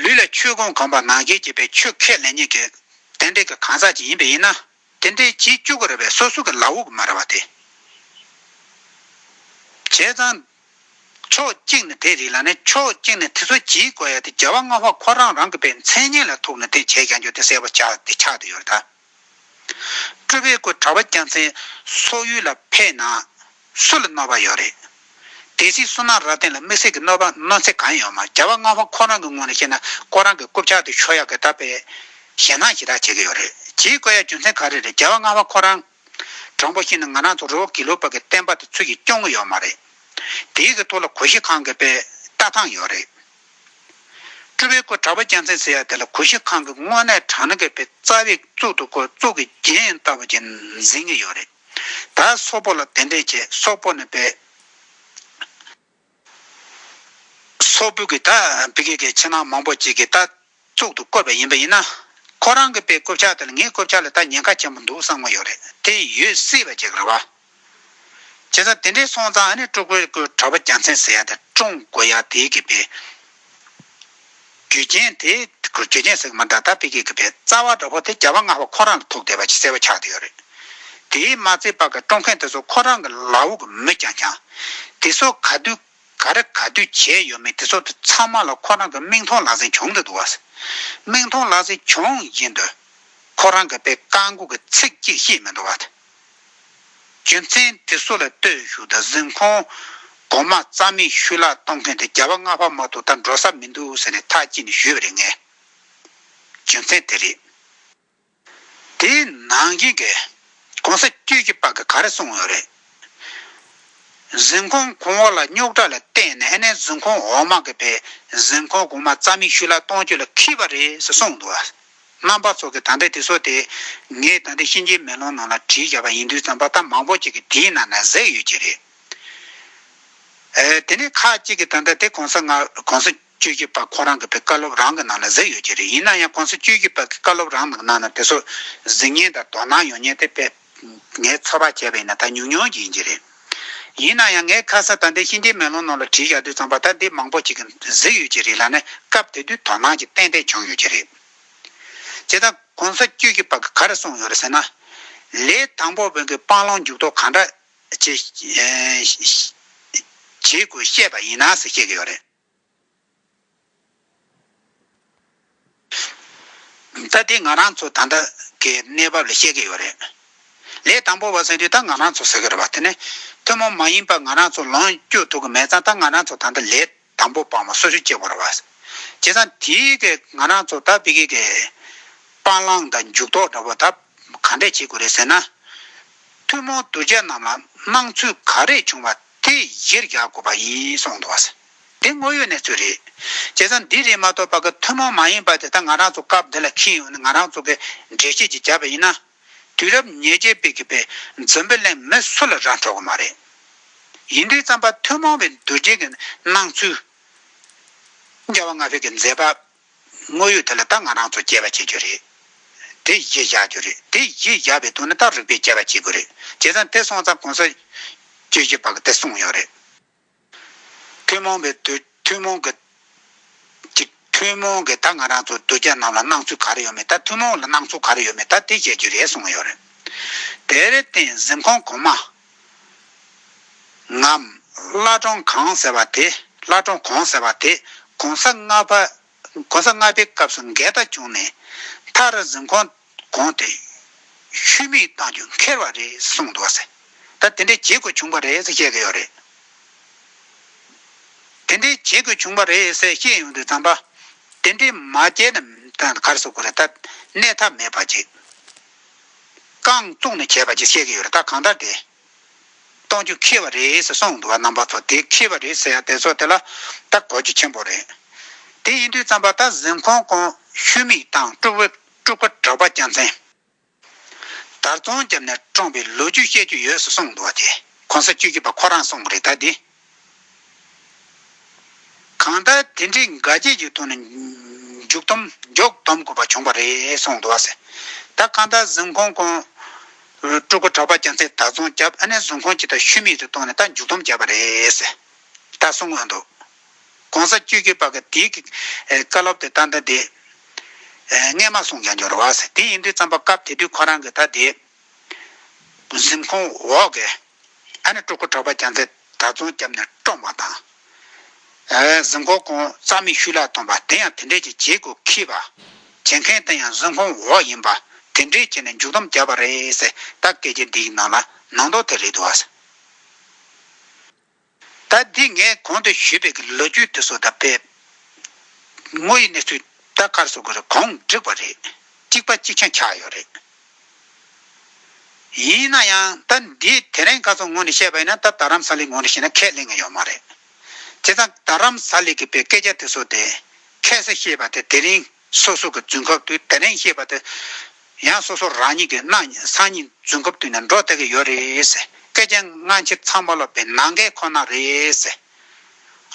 [SPEAKER 1] ལུས་ལ་ཆོས་ཀུན་གང་བར་ནང་བཞིན་བྱེད་པའི་ཆོས་ཁས་ལེན་ཉིད་ཀྱི། རྟེན་འབྲེལ་གྱི་གང་ཟག་ཅིག་ཡིན་པས་ཡིན་ན། དེ་འདྲའི་བྱེད་བཅུག་གི་རེད་པས་སོ་སོ་གི་ལག་འོག་མ་རེད་བ་དེ། བྱས་ཙང། ཕྱོགས་གཅིག་ནས་དེ་རིགས་ལ་ནི་ཕྱོགས་གཅིག་ནས་དེ་ཚོ་བྱེད་དགོས་ཡ་དེ་རྒྱལ་བ་ལྔ་བ་ཁོ་རང་རང་གི་པའི་མཚན་སྙན་ལ་ཐུག་ནས་དེ་བྱས་ཀྱང་ཆོག་དེ་སེལ་བ་ཆགས་དེ་ཆགས་དེ་ཡོད་ད། སྤྲུལ་པའི་སྐུ་གྲགས་པ་རྒྱལ་མཚན་སོགས་ཡུལ་ལ་ཕེབས་ན། སུ་ལ་གནོད་པ་ཡོད་རེད། དེ་སྲིད་སུ་ནང་རབ་བརྟན་ལ་དམིགས་བསལ་གྱི་གནོད་པ་གནོད་འཚེ་གང་ཡོད་མ་རྒྱ་བ་སྔ་བ་ཁོ་རང་གི་ངོས་ནས་བཤད་ན་ཁོ་རང་གི་རྐུབ་ཆག་དེ་ཆོས་ཡག་གི་ད་པས་ཞེ་སྣང་ཞེ་དྲག་བྱེད་ཀྱི་ཡོད་རེད་གྱིས་བཀོད་ཡ་རྒྱུ་མཚན་ག་རེ་རེད་རྒྱ་བ་སྔ་བ་ཁོ་རང་དྲང་པོ་བཤད་ན་ང་རང་ཚོ་རོ་གི་ལུག་པ་གི་བསྟན་པ་དེ་ཚུལ་གྱི་སྐྱོང་གི་ཡོད་མ་རེད་དེའི་གི་ཐུགས་ལ་གུ་ཤྲི་ཁང་གི་པས་ལྟ་སྟངས་ཡོད་རེད། སྤྲུལ་པའི་སྐུ་དྲག་པོ་སྐྱ་མཚན་ཟེར་ཡ་དེ་ལ་གུ་ཤྲི་ཁང་གི་དངོས་གནས་དྲང་ནི་གི་པས་རྩ་བའི་གཙུག་ཏུ་ཁོ་གཙུག་གི་རྒྱན་ཡིན་ལྟ་བུ་གྱིས་འཛིན་གྱི་ཡོད་རེད། ད་སོག་པོ་ལ་དེ་འདྲས་བྱས་སོག་པོ་ནས་བོས། སོག་པོ་གིས་ད་བི་ཀེ་ཀའི་ཕྱི་ནང་མང་པོ་ཅིག་གིས་ད་གཙུག་ཏུ་བཀོད་པ་ཡིན་པ་ཡིན་ན། ཁོ་རང་གི་པའི་བསྐོ་བྱ་དེ་ལ་ངའི་བསྐོ་བྱ་ལས་ད་ཉེན་ཁ་ཆེན་པོ་འདུག་བསམ་གི་ཡོད་རེད་དེ་ཡོད་སྲིད་པ་ཅིག་རེད་བ། བྱས་ཙང་དེ་འདྲས་སོང་ཙང་ཨ་ནི་ཀྲུག་པོའི་ཀུའི་གྲྭ་པ་རྒྱ་མཚན་ཟེར་ཡ་དེ་ཀྲུང་གོ་ཡ་དེའི་གི་པའི་རྒྱུ་རྐྱེན་དེ་རྒྱུ་རྐྱེན་ཟེར་གི་མ་འདྲ་ད་དཔེ་ཁྱེད་ཀྱི་བས་རྩ་བ་འདྲ་བོ་དེ་རྒྱ་བ་ང་བ་ཁོ་རང་ལ་ཐུག་བསྡད་པ་ཅིག་གསལ་བོ་ཆགས་ཏེ་ཡོད་རེད། དེའི་མ་ཚེ་བར་གྱི་སྤྲོ་མཁན་དེ་ཚོ་ཁོ་རང་གི་ལག་འོག་གི་མི་རྐྱང་རྐྱང། དེ་ཚོ་ག་དུས་ག་རེ་ག་དུས་བྱས་ཡོད་མེད་དེ་ཚོ་དེ་ཚང་མ་ལ་ཁོ་རང་གི་མིག་མཐོང་ལག་ཟིན་བྱུང་དུ་འདུག་ཨ། མིག་མཐོང་ལག་ཟིན་བྱུང་ཡིན་དུས། ཁོ་རང་གི་བས་བཀའ་འགུག་གི་ཚིག་གཅིག་བཤད་མི་འདུག་ཨ། རྒྱུ་མཚན་དེ་སུ་ལ་ལྟོས་ཞུ་ད་གཟིམ་ཁོང་གོང་མ་རྩ་མེད་ཤུལ་བརླག་གཏོང་མཁན་དེ་རྒྱ་བ་རྔ་བ་མ་ཐུག་ད་འགྲོ་ས་མི་འདུག་ཟེར་ནས་ཐག་བཅད་ནས་བཞུད་པ་རེད་ངས་རྒྱུ་མཚན་དེ་རེད། དེའི་ནང་བཞིན་གྱི་གོང་ས་སྐྱོད་ཀྱི་པ་ག་རེ་གསུང་ཡོད་རེད། གཟིམ་ཁོང་གོང་བ་ལ་རྙོག་དྲ་ལ་བརྟེན་ནས་ཨ་ནེ་གཟིམ་ཁོང་འོག་མ་གི་པས་གཟིམ་ཁོང་གོང་མ་རྩ་མེད་ཤུལ་བརླག་གཏོང་རྒྱུ་ལ་ཁེལ་བ་རེད་ཟེར་གསུང་འདུག་ཨ། རྣམ་པ་ཚོགས་ཀྱི་དམ་པའི་དུས་སོགས་ཏེ། ངས་ད་ལྟའི་གཤིན་རྗེའི་མེ་ལོང་ནང་ལ་བྲིས་བཞག་པ་ཡིན་དུས་རྩམ་པ་རྟ་མང་པོ་ཅིག་གིས་དེའི་ནང་ན་གཟེགས་ཡོད་ཀྱི་རེད། དེ་ནས་ཁ་ཅིག་གིས་ད་ལྟ་དེ་གོང་ས་སྔགོང་ས་བཅུ་བཞི་པ་ཁོ་རང་གི་བུ་བཀའ་སློབ་རང་གི་ནང་ན་གཟེགས་ཡོད་ཀྱི་རེད་ཡིན་ན་ཡང་གོང་ས་བཅུ་བཞི་པ་གི་བཀའ་སློབ་རང་གི་ནང་ན་དེ་སོགས་གཟིགས་བརྙན་དང་དོ་སྣང་ཡོང་ཉེན་དེ་དཔེ་ངས་ཚོར་བ་བྱས་པ་ཡིན་ན་ད་ཉུང་ཉུང་ཡིན་གྱི་རེད། ཡིན་ན་ཡང་ངས་ཁ་ས་ད་ལྟའི་ཤིང་རྟའི་མེ་ལོང་ནང་ལ་བྲིས་བཞག་དུས་ཚང་པ་ད་འདི་མང་པོ་ཞིག་གིས་གཟིགས་ཡོད་ཀྱི་རེད་ལ་ནི་སྐབས་དེ་དུས་དོ་སྣང་ཅིག་ཏན་ཏན་བྱུང་ཡོད་ཀྱི་རེད། བྱས་ཙང་གོང་ས་བཅུ་གྱི་བར་གྱི་ག་རེ་གསུངས་ཡོད་རེད་ཟེར་ན། ལས་དང་པོ་བོན་གྱི་སྤང་བླང་འཇུག་ལྡོག་གང་འདྲ་བྱེད་དགོས་བཤད་པ་ཡིན་ན་ཟེར་བཤད་ཀྱི་ཡོད་རེད། ད་ལྟའི་ང་རང་ཚོ་ད་ལྟ་གི་གནས་བབ་ལ་བཤད་ཀྱི་ཡོད་རེད། ལས་དང་པོ་བ་ཟེར་དུས་ད་ང་རང་ཚོ་ཟེར་གྱི་རེད་བ་དེ་ནི་ཐུན་མོང་མ་ཡིན་པར་ང་རང་ཚོ་ལོངས་སྤྱོད་ཐུབ་ཀྱི་མེད་ཙང་ད་ང་རང་ཚོ་ད་ལྟ་ལས་དང་པོ་བ་མོ་སོ་སོའི་སྐྱེ་བོ་རེད་བ། བྱས་ཙང་དེ་གི་ང་རང་ཚོ་ད་བི་ཀི་གི་སྤང་བླང་དང་འཇུག་ལྡོག་འདྲ་བོ་ད་ག་འདྲས་བྱེད་དགོས་རེད་ཟེར་ན། ཐུན་མོང་གདུལ་བྱ་རྣམས་ལ་སྣང་ཚུལ་ག་རེ་བྱུང་བ་དེ་གཞིར་རྒྱག་དགོས་པ་ཡིན་གསུངས་འདུག་བ། འདི་དངོས་ཡོད་གནས་ཚུལ་རེད། བྱས་ཙང་འདི་རེད་མ་གཏོགས་པ་ཀ་ཐུན་མོང་མ་ཡིན་པ་དེ་ད་ང་རང་ཚོ་སྐབས་འདི་ལ་ཁེལ་ཡོང་ནི་ང་རང་ཚོ་གི་འགྲེལ་བྱེད་ཀྱི་བྱ་བ་ཡིན་ན། དུས་རབས་ཉེར་བརྒྱད་པའི་གི་པའི་འཛམ་བུ་གླིང་མི་སུ་ལ་རག་འཕྲོག་གི་མ་རེད། ཡིན་དུས་རྩམ་པ་ཐུན་མོང་བའི་འདུ་བྱེད་ཀྱི་སྣང་ཚུལ། རྒྱ་བ་ང་ཕོད་ཀྱི་མཛད་པ། དངོས་ཡོད་དེ་ལ་ད་ང་རང་ཚོ་སྐྱེལ་བ་བྱེད་རྒྱུ་རེད། དེ་ཡིས་བཞག་རྒྱུ་རེད་དེ་ཡིས་བཞག་པའི་དོན་ནི་ད་རིག་པས་སྐྱེལ་བ་བྱེད་དགོས་རེད། བྱས་ཙང་དེ་སོང་ཙང་གོང་ས། ཀྱི་གཞི་བག་དེ་སོང་ཡོད་རེད། ཐུན་མོང་བའི་དུས་ཐུན་མོང་གི། གི། ཐུན་མོང་གི་ད་ང་རང་ཚོ་དུས་རྒྱ་ནང་ལ་སྣང་ཚུལ་ག་རེ་ཡོད་མེད་ད་ཐུན་མོང་ལ་སྣང་ཚུལ་ག་རེ་ཡོད་མེད་ད་དེ་བཤད་རྒྱུ་རེད་སོང་ཡོད་རེད། དེར་བརྟེན་གཟིམ་ཁང་གོང་མ། ངམ། བླ་བྲང་གང་ཟེར་བ་དེ་བླ་བྲང་གོང་ཟེར་བ་དེ་གོང་ས་ལྔ་པའི་སྐབས་སུ་འགལ་ཟླ་བྱུང་ནས་མཐར་གཟིམ་ཁང་གོང་དེ་ཤུལ་མིག་བཏང་རྒྱུ་འཁེལ་བ་རེད་གསུངས་འདུག་ཟེར། ད་དེ་འདྲའི་བྱེད་དགོས་བྱུང་པ་རེད་ཟེར་བཤད་ཀྱི་ཡོད་རེད། དེ་འདྲའི་བྱེད་དགོས་བྱུང་པ་རེད་ཟེར་བཤད་ཡོང་དུས་ཙམ་པ། དེ་འདྲའི་མ་བྱས་ན་གར་སོ་དགོས་རེད་ད་གནས་ཐབས་མེད་པ་ཅིག་རྐང་བཙུགས་ནས་བྱས་པ་ཅིག་བཤད་ཀྱི་ཡོད་རེད་ད་གང་ལྟར་དེ་གཏོང་རྒྱུ་ཁེལ་བ་རེད་ཟེར་སོང་འདུག་བ་རྣམ་པ་ཚོ་དེ་ཁེལ་བ་རེད་ཟེར་ཡ་དེ་ཚོ་དེ་ལ་ད་གོ་རྒྱུ་ཆེན་པོ་རེད། དེ་ཡིན་དུས་བརྩམས་པ་ད་གཟིམ་ཁོང་ཀོང་ཤུལ་མིག་དང་སྤྲུག་པ་གྲགས་པ་རྒྱལ་མཚན། དར་རྫོང་རྒྱབ་ནས་བཀྲོངས་པའི་ལོ་རྒྱུས་བཤད་རྒྱུ་ཡོད་ཟེར་སོང་འདུག་བ་དེ་གོང་ས་བཅུ་བཞི་པ་ཁོ་རང་གསུངས་པ་རེད་ད་དེ་གང་ལྟར་དེ་འདྲའི་འགའ་རྒྱས་ཀྱི་ཐོག་ནས་མཇུག་སྡོམ་མགྱོགས་སྡོམ་དགོས་པ་བྱུང་བ་རེད་གསུངས་འདུག་ཟེར། ད་གང་ལྟར་གཟིམ་ཁང་གོང། སྤྲུལ་སྐུ་གྲགས་པ་རྒྱ་མཚན་དར་རྫོང་རྒྱབ་ཨ་ནེ་གཟིམ་ཁང་གཅིག་དང་ཤུལ་མེད་དུ་བཏང་ནས་ད་མཇུག་སྡོམ་བརྒྱབ་པ་རེད་ཟེར། ད་གསུངས་དགོས་འདུག་གོང་ས་བཅུ་གཅིག་པ་གི་དེའི་གི་བཀའ་སློབ་དེ་ད་ལྟ་དེ། སྔས་མ་གསུངས་ཀྱང་འགྱོར་བ་ཟེར་དེ་ཡིན་དུས་རྩམ་པ་སྐབས་དེ་དུས་ཁོ་རང་གི་ད་དེ། གཟིམ་ཁང་འོག་གི། ད་ནི་སྤྲུལ་སྐུ་གྲགས་པ་རྒྱ་མཚོས་དགྲ་བཙོང་བསྐྱབས་ནས་བཀྲོངས་པ་དང། གཟིམས་ཁང་གོང་རྩ་མིག་ཤུལ་ལ་ཐོན་པ་དེ་ཡང་དེ་འདྲས་ཀྱི་བྱེད་སྒོ་ཁེས་པ། བྱེད་མཁན་དེ་ཡང་གཟིམས་ཁང་འོག་ཡིན་པ་དེ་འདྲས་བྱས་ནས་མཇུག་སྡོམ་བརྒྱབ་པ་རེད། ད་སྐད་ཆ་འདིའི་ནང་ལ་ནང་དོགས་ཐེབས་རེ་འདུག་ཨ། ད་འདི་ངས་གོང་དུ་ཞུས་པའི་གི་ལོ་རྒྱུས་དེ་ཚོ་ད་དཔེ་དངོས་ཡིན་ནས་ཚུད་ད་གར་བཟོ་དགོས་རེད་གོང་འགྲིག་པ་རེད་གཅིག་པ་གཅིག་ཆང་ཆགས་ཡོད་རེད། ཡིན་ན་ཡང་ད་འདི་དེ་རིང་ག་ཚོ་ངོ་ནས་བཤད་པ་ཡིན་ན་ད་རམ་ས་ལིག་ངོ་ནས་བཤད་ན་ཁས་ལེན་གི་ཡོད་མ་རེད། དེ་ད་རམ་ས་ལིག་གི་པའི་སྐད་ཆ་དེ་ཚོ་དེ་ཁས་སེ་ཤེས་པ་དེ་དེ་རིང་སོ་སོ་གི་རྫུན་ཁབ་ཏུ་དེ་རིང་བཤད་པ་དེ་ཡང་སོ་སོ་རང་ཉིད་ཀྱི་སྣང་བརྙན་སང་ཉིན་རྫུན་ཁབ་ཏུ་ནས་འགྲོ་བསྡད་ཀྱི་ཡོད་རེད། སྐད་ཆ་སྔ་ཕྱི་ཚང་མ་ལོག་པའི་ནང་འགལ་ཁོ་ན་རེད།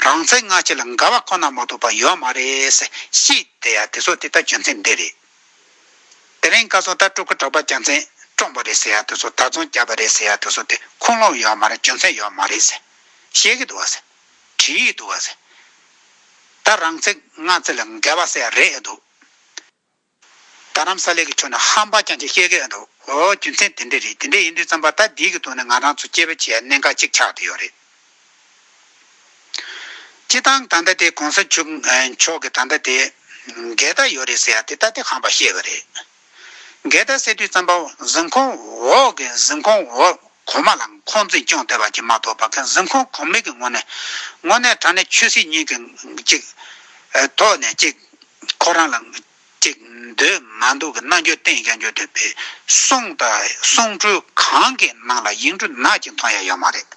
[SPEAKER 1] རང་བཙན་སྔ་ཕྱི་ལ་འགལ་བ་ཁོ་ན་མ་གཏོགས་པ་ཡོད་མ་རེད། ཤི་དེ་ཡ་དེ་ཚོ་དེ་ལྟར་བྱོན་ཚད་འདི་རེད། དེ་རིང་བཀའ་ཟུར་ལྟར་སྤྲུལ་སྐུ་གྲགས་པ་རྒྱལ་མཚན་བཀྲོངས་པ་རེད་ཟེར་ཡ་དེ་ཚོ་དར་རྫོང་བརྒྱབ་པ་རེད་ཟེར་ཡ་དེ་ཚོ་དེ་ཁུངས་ལུང་ཡོད་མ་རེད་བྱོན་ཚད་ཡོད་མ་རེད། བཤད་ཀྱི་འདུག་བ། བྲིས་ཡོད་འདུག་བ་ཟེར། ད་རང་ཚིག་ང་ཚིག་ལ་འགལ་བ་བསལ་རེད་འདུག། རྡ་རམ་ས་ལའི་གི་ཆོས་ནི་ཧ་འབའ་ཅང་ཅང་བཤད་གི་འདུག་འོ་རྒྱུ་མཚན་དེ་འདྲས་རེད་དེ་འདྲས་ཡིན་དུས་བརྩམས་པ་ད་འདིའི་གི་ཐོག་ནས་ང་རང་ཚོ་སྐྱེ་བོ་བྱས་གནས་འགའ་གཅིག་ཆགས་དུ་ཡོད་རེད། སྤྱི་བཏང་ད་ལྟ་དེ་གོང་ས་ཆུབ་མཆོག་གི་ད་ལྟ་དེ་འགལ་ཟླ་ཡོད་རེད་ཟེར་དེ་ད་དེ་ཧ་འབའ་བཤད་གི་རེད། འགལ་ཟླ་ཟེར་དུས་བརྩམས་པ་གཟིམ་ཁང་འོག་གི་གཟིམ་ཁང་འོག་གོང་མ་ལའང་ཁོང་འཛིན་སྐྱོང་དེ་བར་གྱི་མ་གཏོགས་པ་ཁན་གཟིམ་ཁོང་གོམས་ལེགས་ཀྱི་ངོ་ནས། ངོ་ནས་དྲ་གནས་ཆོས་སྲིད་གཉིས་ཀྱི་གཅིག། ཐོག་ནས་གཅིག། ཁོ་རང་ལ། གཅིག། འདོད་མ་འདུག་གི་རྣ་འགྱོ་བསྟན་ཀྱང་འགྱོ་འདོད་པའི། གསུང། གསུང་འཕྲུལ་གང་གི་ནང་ལ་ཡིག་འབྲུ་ནག་ཅིག་མཐོང་ཡ་ཡོད་མ་རེད།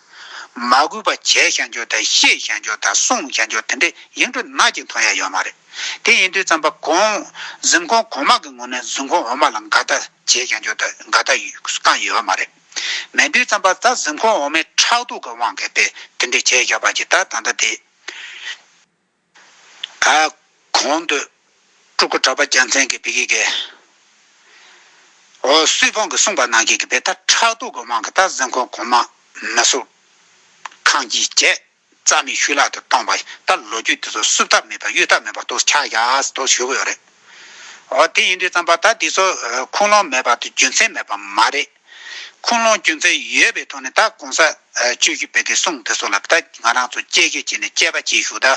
[SPEAKER 1] མ་གུས་པ་བྱས་ཤག་འགྱོ་དང་ཤེས་ཤག་འགྱོ་དང་གསུང་ཤག་འགྱོ་དེ་འདྲའི་ཡིག་འབྲུ་ནག་ཅིག་མཐོང་ཡ་ཡོད་མ་རེད། དེ་ཡིན་དུས་རྩམ་པ་གོང་གཟིམ་གོང་གོང་མ་གི་ངོ་ནས་གཟིམ་གོང་འོག་མ་ལ་འགའ་ལྟ་བྱས་ཀྱང་ཆོག་ད་འགའ་ལྟ་བསྐང་ཡོད་པ་མ་རེད། མེད་དུས་རྩམ་པ་རྩ་གཟིམ་གོང་འོག་མའི་ཁྲག་དུག་གི་དབང་གིས་པས་དེ་འདྲས་བྱས་ཡོད་པ་ཇི་ལྟར་ད་ལྟ་དེ། ཨ། གོང་དུ། སྤྲུལ་སྐུ་གྲགས་པ་རྒྱལ་མཚན་གྱིས་བི་ཀི་ཀའི། འོ་སུས་ཕོངས་ཀྱིས་གསུངས་པ་ནང་གི་གི་པས་ད་ཁྲག་དུག་གི་དབང་གིས་རྩ་གཟིམ་གོང་གོང་མ། མི་སུ། ཁང་གིས་བཅད། རྩ་མེད་ཤུལ་ལྷག་ཏུ་སྟོང་པ་ལྟར་ལོ་རྒྱུས་དེ་ཚོ་བསུབ་ཐབས་མེད་པ་གཡོལ་ཐབས་མེད་པ་དོགས་ཆགས་ཡག་དོགས་ཞུ་གི་ཡོད་རེད། འོ་དེ་ཡིན་དུས་རྩམ་པ་ད་འདི་ཚོ་ཁུངས་ལུང་མེད་པ་དང་རྒྱུ་མཚན་མེད་པ་མ་རེད། ཁུངས་ལུང་རྒྱུ་མཚན་ཡོད་པའི་ཐོག་ནས་ད་གོང་ས་བཅོས་རྒྱུ་བེད་དེ་གསུངས་དེ་ཚོ་ལ་ད་ང་རང་ཚོ་དཔྱད་ཁྱད་བྱས་ནས་དཔྱད་པ་བྱེད་ཞུ་ད་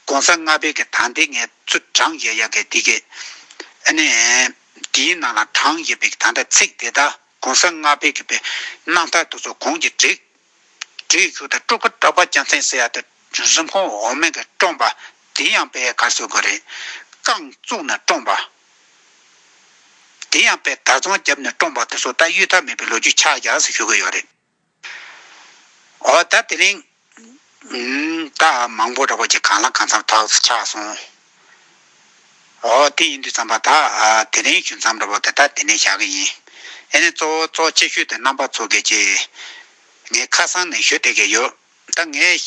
[SPEAKER 1] གོང་ས་ལྔ་བེད་ཀྱི་དང་དེ་ངས་ཚུར་བགྲང་ཡས་ཡ་གས་དེ་གས་ཨ་ནས་དེའི་ནང་ལ་བགྲང་ཡས་བེད་ཀྱི་དང་ད་ཚིག་དེ་ད་གོང་ས་ལྔ་བེད་ཀྱི་བེད་གནང་ཐག་དེ་ཚོ་གོང་གྱི་བསྒྲིགས། དྲི་ཡི་ཆུ་དང་སྤྲུག་པ་སྐྲག་པ་སྐྱ་མཚན་སེར་ཡག་དང་གཟུགས་ཁོང་འོ་མས་ཀྱིས་བཀྲོངས་པ་དེ་ཡང་པའི་གར་སོགས་ཀྱི་རེད། རྐང་བཙུགས་ནས་བཀྲོངས་པ། དེ་ཡང་པའི་དར་ཚོང་བརྒྱབ་ནས་བཀྲོངས་པ་དེ་སོགས་ད་གཡུལ་ཐབས་མེད་པའི་ལོ་རྒྱུས་ཆགས་རྒྱག་ཞིག་ཞུ་གི་ཡོད་རེད། འོ་ད་དེ་རིང། ད་མང་པོ་རེ་བ་ཅིག་གང་ལ་གང་འཚམ་ཐོག་ཆགས་སོང། ཨོ། དེ་ཡིན་དུས་བརྩམས་པ་དག་དེ་རིང་ཞུ་མཚམས་རེད་བོ་དེ་ལྟར་དེ་ནས་བཞག་གི་ཡིན། ཨེ་ནས་གཙོ་བོ་གཙོ་ཆེ་ཤོས་དེ་རྣམ་པ་ཚོ་གས་ཀྱི། ངས་ཁ་སང་ནས་ཞུ་བསྡད་ཀྱི་ཡོད། ད་ངས་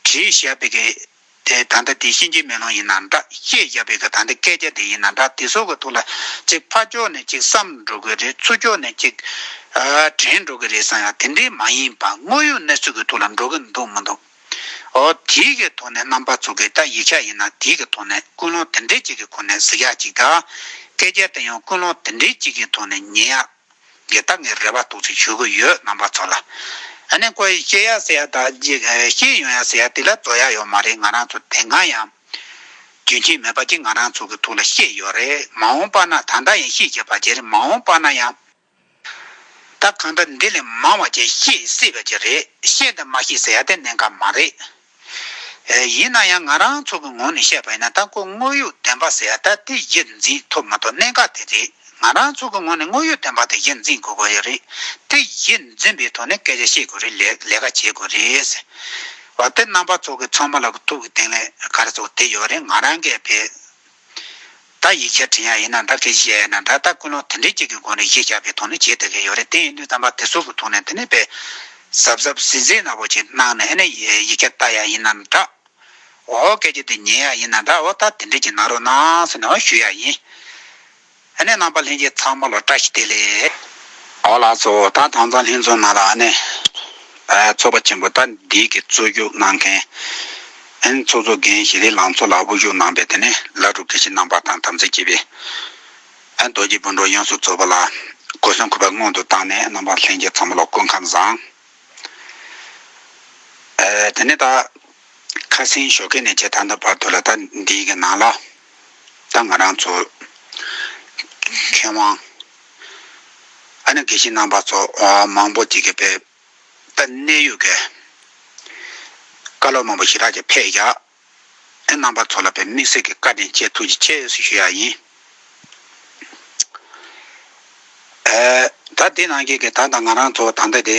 [SPEAKER 1] བྲིས་བཞག་པའི་གི་དེ་ད་ལྟ་དེ་གཤིན་རྗེའི་མེ་ལོང་ཡིན་ན་འདྲ་བཤད་བཞག་པའི་གི་ད་ལྟ་སྐད་ཆ་དེ་ཡིན་ན་འདྲ་དེ་ཚོ་གི་ཐུགས་ལ་གཅིག་ཕ་ཕྱོགས་ནས་གཅིག་བསམ་འགྲོ་གི་རེད་ཚུར་ཕྱོགས་ནས་གཅིག་དྲན་འགྲོ་གི་རེད་བསམ་ཡང་དེ་འདྲའི་མ་ཡིན་པ་དངོས་ཡོད་གནས་ཚུལ་གི་ཐུགས་ལ་འགྲོ་གི་འདུག་མི་འདུག། ཨོ། དེའི་གི་ཐོག་ནས་རྣམ་པར་ཚུགས་ཀྱི་ད་ཡིག་ཆ་ཡིན་ན་དེའི་གི་ཐོག་ནས་ཀུན་སློང་དེ་འདྲའི་གཅིག་གི་ཁོ་ནས་གཟིགས་ཡག་གཅིག་ད། སྐད་རྒྱལ་དེ་ཡང་ཀུན་སློང་དེ་འདྲའི་གཅིག་གི་ཐོག་ནས་ཉན་ཡག། གི་ད་ངས་རེ་བ་ཏོག་ཙིག་ཞུ་གི་ཡོད་རྣམ་པ་ཚོ་ལ། ཨ་ནེ་ཀོ་ཡིས་ཤེས་ཡག་ཟེར་ཡག་ད་གཅིག་ཤེས་ཡོང་ཡག་ཟེར་ཡག་དེ་ལ་རྫོགས་ཡག་ཡོད་མ་རེད་ང་རང་ཚོ་དེ་སྔ་ཡང། རྒྱུན་མཁྱེན་མེད་པ་གཅིག་ང་རང་ཚོ་གི་ཐུགས་ལ་ཤེས་ཡོད་རེད་མ་འོང་པ་ན་ད་ལྟ་ཡང་ཤེས་བྱེད་པ་གཅིག་རེད་མ་འོང་པ་ན་ཡང། ད་གང་འདྲ་འདི་ལས་མང་བ་ཅིག་ཤེས་སྲིད་པ་ཅིག་རེད་ཤེས་དང་མ་ཤེས་ཟེར་ཡ་ལྟས་གནད་འགག་མ་རེད། ཡིན་ན་ཡང་ང་རང་ཚོ་གི་ངོ་ནས་བཤད་པ་ཡིན་ན་ལྟ་སྐོར་དངོས་ཡོད་བདེན་པ་ཟེར་ཡ་ལྟ་དེ་གཞིར་འཛིན་ཐུབ་མ་ཐུབ་གནད་འགག་དེ་རེད་ང་རང་ཚོ་གི་ངོ་ནས་དངོས་ཡོད་བདེན་པ་དེ་གཞིར་འཛིན་དགོས་དགོས་རེད་དེ་གཞིར་འཛིན་པའི་ཐོག་ནས་སྐད་ཆ་བཤད་དགོས་རེད་ལས་ཀ་བྱེད་དགོས་རེད། བ་དེ་རྣམ་པ་ཚོ་གི་ཚང་མ་ལ་གི་ཐུག་གི་དེང་ལས་ཀར་ཚོ་དེ་ཡོད་རེད་ང་རང་གས་བེད། ད་ཡིག་ཆ་བྲིས་ཡ་ཡིན་ན་ད་གལ་ཞིག་ཡ་ཡིན་ན་ད་ད་ཀུན་སློང་དེ་འདྲའི་ཅིག་གི་སྒོ་ནས་གཞས་རྒྱག་པའི་དོགས་ནི་བྱེད་ད་གི་ཡོད་རེད་དེ་ཡིན་དུས་དམ་པ་དེ་ཟུར་དུ་ཐུག་ནས་དེ་ནས་པས་གཟབ་གཟབ་ཟིལ་ཟིལ་ནག་པོ་ཅིག་གནང་ནས་ཨེ་ནས་ཡིག་ཆ་བལྟ་ཡ་ཡིན་ན་འདྲ། འོ་སྐད་ཆ་དེ་ཉན་ཡ་ཡིན་ན་འདྲ་འོ་ད་དེ་འདྲའི་ཅིག་གནང་རོགས་གནང་ཟེར་ནས་འོ་ཞུ་ཡ་ཡིན། ཨ་ནེ་རྣམ་པ་ལྷན་རྒྱས་ཚང་མ་ལོ་བཀྲ་ཤིས་བདེ་ལེགས། ཨོ་ལགས་ཚོ་ད་དྭངས་གཙང་ལྷན་ཚོགས་ནང་ལ་ཨ་ནེ་ཚོགས་པ་ཆེན་པོ་ད་འདི་གི་གཙོ་རྒྱུགས་གནང་མཁན་ཨ་ནེ་ཚོགས་གཙོ་རྒན་ཞི་རི་ལང་ཚོ་ལགས་དབུ་བཞུགས་གནང་པའི་དེ་ནས་བླ་སྒྲུབ་དགེ་བཤེས་རྣམ་པ་དང་དམ་ཚིག་བཅས་པའི་ཨ་ནེ་རྡོ་རྗེ་སྤུན་གྲོགས་དབྱངས་གསོལ་གཙོས་པ་ལ་གོ་གསོན་གུས་པ་སྔོན་དུ་བཏང་ནས་རྣམ་པ་ལྷན་རྒྱས་ཚང་མ་ལ་སྐུ་ཁམས་བཟང། དེ་ནས་ད་ཁ་སིང་ཞོ་ཁེ་ནས་བཅས་ད་ལྟ་བར་དུ་ལ་ད་འདི་གི་ནང་ལ། ད་ང་རང་ཚོ། མཁས་དབང། ཨ་ནེ་དགེ་བཤེས་རྣམ་པ་ཚོ་མང་པོ་ཅིག་གིས་པའི་ད་གནས་ཡོད་ཀྱི། བཀའ་སློབ་མང་པོ་ཞིག་རག་ཀྱི་ཕེ་ཡ། ཨེ་རྣམ་པ་ཚོ་ལ་པའི་དམིགས་བསལ་གྱི་བཀའ་དྲིན་ཆེ་ཐུགས་རྗེ་ཆེ་ཞུ་ཡ་ཡིན། ཨེ། ད་དེ་ནང་གི་ད་ད་ང་རང་ཚོ་ད་ལྟ་དེ་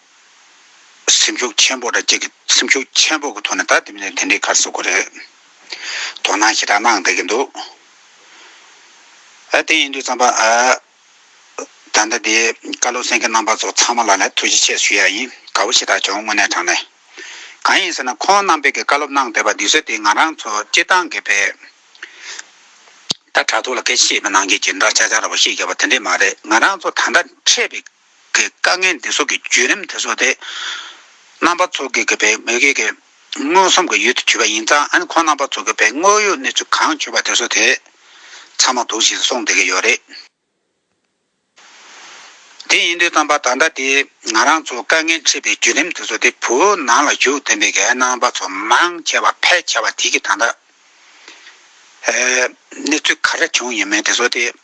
[SPEAKER 1] སེམས་ཤུགས་ཆེན་པོ་དང་བཅས་སེམས་ཤུགས་ཆེན་པོ་གི་ཐོག་ནས་ད་དེ་མིན་ན་དེ་འདྲའི་ཁར་ཟུག་གི་རེད། དོ་སྣང་ཞེ་དྲག་གནང་བསྡད་ཀྱི་འདུག་ཨ་དེ་ཡིན་དུས་བརྩམས་པ་ཨ། ད་ལྟ་དེ་བཀའ་སློབ་གསན་མཁན་རྣམ་པ་ཚོ་ཚང་མ་ལ་ནས་ཐུགས་རྗེ་ཆེ་ཞུ་ཡ་ཡིན་དགའ་བོ་ཞེ་དྲག་བྱུང་དངོས་གནས་དྲང་གནས། གང་ཡིན་ཟེར་ན་ཁོང་རྣམ་པས་ཀྱི་བཀའ་སློབ་གནང་བསྡད་པ་འདི་ཚོ་དེ་ང་རང་ཚོ་སྤྱིར་བཏང་གི་བས། ད་དྲ་ཐོག་ལ་སྐད་ཆ་བཤད་པའི་ནང་གི་ཇི་འདྲ་ཆག་ཆག་ར་བ་ཤེས་རྒྱ་བ་དེ་འདྲས་མ་རེད་ང་རང་ཚོ་ད་ལྟ་འཕྲད་པའི་གི་དཀའ་ངལ་འདི་ཚོགས་ཀྱི་བརྒྱུད་རིམ་དེ་ཚོ་དེ། རྣམ་པ་ཚོགས་ཀྱི་གི་བའི་མི་གི་གི་མངོན་སུམ་གི་ཡུལ་དུ་བྱུས་པ་ཡིན་ཙང་ཨན་ཁོང་རྣམ་པ་ཚོགས་གི་བའི་དངོས་ཡོད་གནས་ཚུལ་གང་བྱུས་པ་དེ་ཚོ་དེ། ཚང་མ་དུག་ཞིག་སོང་བསྡད་གི་ཡོད་རེད། དེ་ཡིན་དུས་ཙམ་པ་ད་ལྟ་དེ་ང་རང་ཚོ་དཀའ་ངལ་འཕྲད་པའི་བརྒྱུད་རིམ་དེ་ཚོ་དེ་བོད་ནང་ལ་བཞུགས་བསྡད་པའི་གི་ཨན་རྣམ་པ་ཚོ་མང་ཆེ་བ་ཕལ་ཆེ་བ་དེ་གི་ད་ལྟ་གནས་ཚུལ་ག་རེ་བྱུང་ཡོད་མེད་དེ་ཚོ་དེ།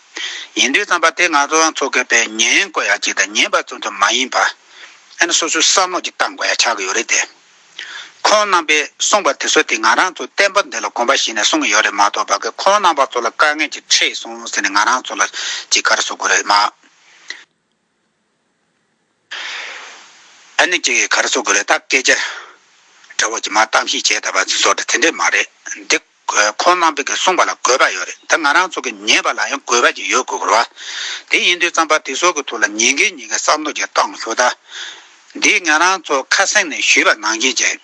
[SPEAKER 1] ཉན་ཐོས་བརྩམས་པ་དེ་ང་ཚོའང་ཚོ་གས་པས་ཉན་དགོས་ཡ་གཅིག་དང་ཉན་པ་ཙུམ་ཙུམ་མ་ཡིན་པ། ཨེ་ན་སོ་སོའི་བསམ་བློ་གཅིག་གཏང་དགོས་ཡ་ཆགས་ཀྱི་ཡོད་རེད་དེ། ཁོང་རྣམ་པས་གསུངས་པ་དེ་ཚོ་དེ་ང་རང་ཚོ་བསྟན་པ་འདི་ལ་གོམས་པ་ཞིག་ནས་གསུངས་ཀྱི་ཡོད་རེད་མ་གཏོགས་བ་གས་ཁོང་རྣམ་པ་ཚོ་ལ་དཀའ་ངལ་གྱི་ཁྲིད་སོང་ཟེར་ནས་ང་རང་ཚོ་ལ་ཅི་དགར་བཟོ་དགོས་རེད་མ། ཨ་ནི་ཅིག་གིས་གར་བཟོ་དགོས་རེད་ད་སྐད་ཆ་འདྲ་བོ་ཇི་མ་གཏམ་ཤེས་བྱས་ད་བར་ཚིག་ཟོག་འདྲ་དེ་འདྲས་མ་རེད་འདི། ཁོང་རྣམ་པས་གསུངས་པ་ལ་དགོས་པ་ཡོད་རེད་ད་ང་རང་ཚོ་གིས་ཉན་པ་ལ་ཡང་དགོས་པ་ཅིག་ཡོད་དགོས་རེད། དེ་ཡིན་དུས་རྩམ་པ་དེ་ཟོག་གི་ཐུགས་ལ་ཉན་མཁན་གཉིས་ཀ་བསམ་བློ་ཅིག་བཏང་ཞུ་ད། འདི་ང་རང་ཚོ་ཁ་སེང་ནས་ཞུས་པ་ནང་བཞིན་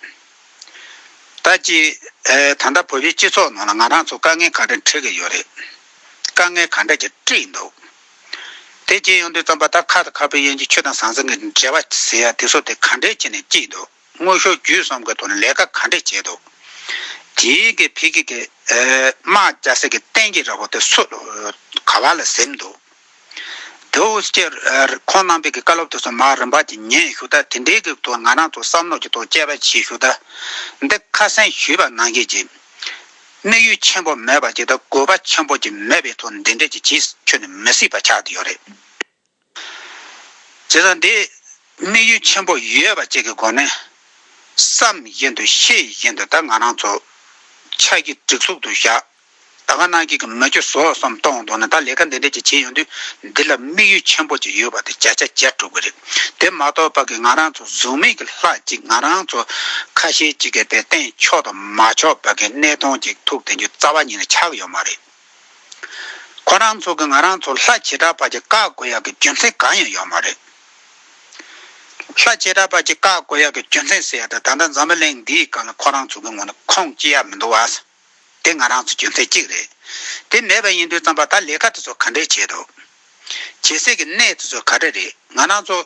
[SPEAKER 1] བྱས་ད་ཅི། ད་ལྟ་བོད་པའི་སྤྱི་ཚོགས་ནང་ལ་ང་རང་ཚོ་དཀའ་ངལ་ག་འདྲ་འཕྲད་ཀྱི་ཡོད་རེད། དཀའ་ངལ་ག་འདྲ་ཅིག་བཀྲིས་འདུག། དེ་རྗེས་ཡོངས་འདུའི་རྩོམ་པ་ལྟར་ཁ་དང་ཁ་སྤུའི་དབྱེ་འབྱེད་ཆུ་དང་ཟང་ཟིང་གི་འབྲེལ་བ་ཟེར་ཡ་དེ་ཚོ་དེ་ག་འདྲས་བྱས་ནས་བསྐྱིས་འདུག་དངོས་ཤུགས་བརྒྱུད་གསུམ་གྱི་ཐོག་ནས་ལས་ཀ་ག་འདྲས་བྱས་འདུག་དེའི་གི་ཕི་གི་གི་དམག་རྒྱ་སེ་གི་བསྟན་གྱི་ར་བོ་དེ་སུ་ག་བ་ལ་གཟིམས་འདུག་དེའུ་སྐྱེ་ཁོང་རྣམ་པས་གི་བཀའ་སློབ་དེ་ཚོ་མར་རིམ་པ་གྱི་ཉན་ཞུ་ད་དེ་འདྲས་གི་ཐོག་ང་རང་ཚོ་བསམ་བློ་གྱི་ཐོག་དཔྱད་པ་བྱེད་ཞུ་ད་འདི་ཁ་སེང་ཞུས་པ་གནང་གི་གྱི། གནས་ཡུལ་ཆེན་པོ་མེད་པ་ཇི་ལྟར་དགོས་པ་ཆེན་པོ་ཅིག་མེད་པའི་ཐོག་འདི་འདྲས་ཀྱི་ཅིས་ཁྱོད་ནི་མི་སྲིད་པ་ཆགས་ཀྱི་ཡོད་རེད། བྱས་ཙང་འདི་གནས་ཡུལ་ཆེན་པོ་ཡོད་པ་ཅིག་གི་སྒོ་ནས་བསམ་བཞིན་དུ་ཤེས་བཞིན་དུ་ད་ང་རང་ཚོ་ཆགས་ཀྱི་སྒྲིག་ཚུགས་དུ་བཞག་ད་ང་ནང་ཁྱེད་ཀྱི་མི་ཁྱོད་ཟོག་བསམ་གཏོང་འདུག་ན་ད་ལས་ཀ་འདི་འདྲས་ཀྱི་བྱེད་ཡོང་དུས་འདི་ལ་དམིགས་ཡུལ་ཆེན་པོ་ཅིག་ཡོད་པ་དེ་བརྒྱ་ཆ་བརྒྱ་གྲུབ་ཀྱི་རེད། དེ་མ་གཏོགས་པ་གི་ང་རང་ཚོ་གཟུགས་མེད་ཀྱི་ལྷ་ཅིག་ང་རང་ཚོ་ཁ་ཞེ་གཅིག་གི་པའི་སྟེང་ཕྱོགས་དང་མ་ཕྱོགས་པ་གི་གནས་སྟོང་ཅིག་ཐུག་དེ་འཇུ་རྩ་བ་ཉིད་ལ་ཆགས་ཡོད་མ་རེད། ཁོ་རང་ཚོ་གི་ང་རང་ཚོ་ལྷ་བྱེ་བྲག་པ་ཅིག་བཀག་དགོས་ཡག་གི་རྒྱུ་མཚན་གང་ཡང་ཡོད་མ་རེད། ལྷ་བྱེ་བྲག་པ་ཅིག་བཀག་དགོས་ཡག་གི་རྒྱུ་མཚན་ཟེར་ཡག་ད་ད་ལྟ་འཛམ་བུ་གླིང་འདིའི་སྐབས་ལ་ཁོ་རང་ཚོ་གི་ངོ་ནས་ཁོངས་སྐྱེལ་ཡག་མི་འདུག་བ། དེ་ང་རང་ཚོའི་རྒྱུ་མཚན་གཅིག་རེད། དེ་མེད་པ་ཡིན་དུས་རྩམ་པ་དང་ལས་ཀ་དེ་ཚོ་ག་འདྲའི་བྱེད་འདུག། བྱེད་སའི་གི་གནས་དེ་ཚོ་ག་འདྲ་རེད་ང་རང་ཚོ།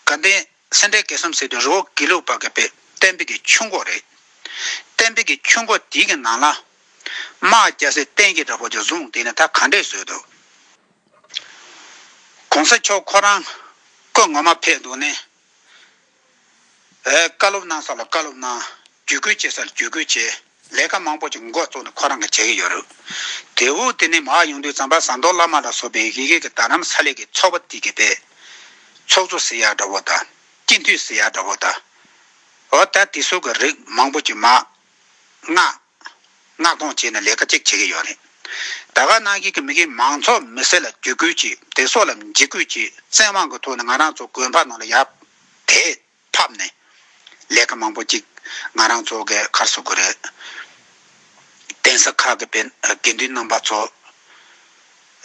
[SPEAKER 1] དགའ་ལྡན་སེ་འབྲས་དགེ་གསུམ་ཟེར་དུས་རི་བོ་དགེ་ལུགས་པ་གི་པད་བསྟན་འཕེལ་གྱི་ཆུ་འགོ་རེད། བསྟན་འཕེལ་གྱི་ཆུ་འགོ་དེའི་གི་ནང་ལ། དམག་རྒྱ་སེ་བསྟན་གྱི་འདྲ་པོ་ཆུ་ཟུང་དེ་ནི་ད་ག་འདྲས་བཟོས་འདུག། གོང་ས་མཆོག་ཁོ་རང་བཀོད་ངོ་མ་ཕེབས་འདུག་ནས། བཀའ་སློབ་གནང་ས་ལ་བཀའ་སློབ་གནང། བརྒྱུད་སྐུལ་བྱེད་ས་ལ་བརྒྱུད་སྐུལ་བྱེད། ལས་ཀ་མང་པོ་ཅིག་མགོ་བཙུགས་ནས་ཁོ་རང་གིས་བྱེད་ཀྱི་ཡོད་རུ། དེའུ་དེ་ནི་མ་ཡོང་དུས་ཛམ་པ་ཟངས་མདོག་བླ་མ་ལ་སོགས་པའི་ཡི་གེ་གི་དར་རམ་ས་ལེ་གི་ཚོགས་པ་བསྟི་གི་པའི། ཚོགས་གཙོ་སི་ཡག་འདྲ་བོ་དང། སྤྱི་འཐུས་སི་ཡག་འདྲ་བོ་དང། འོ་ད་དེ་སོགས་ཀྱི་རིགས་མང་པོ་ཅིག་མ། མངགས། མངགས་གཏོང་བྱས་ནས་ལས་ཀ་གཅིག་བྱེད་ཀྱི་ཡོད་རེད། ད་ག་ནང་བཞིན་གྱི་མི་རིགས་མང་ཚོགས་མི་སེར་ལ་བརྒྱུད་སྐུལ་གྱིས་དེ་སོགས་ལ་འཇིགས་སྐུལ་གྱིས་བཙན་དབང་གི་ཐོག་ནས་ང་རང་ཚོ་དགོན་པ་ནང་ལ་ཡར་དེད་ཕབ་ནས་ལས་ཀ་མང་པོ་གཅིག་ང་རང་ཚོ་གའི་ཁར་བཟོ་དགོས་རེད། གདན་ས་ཁག་གི་དགེ་འདུན་རྣམ་པ་ཚོ་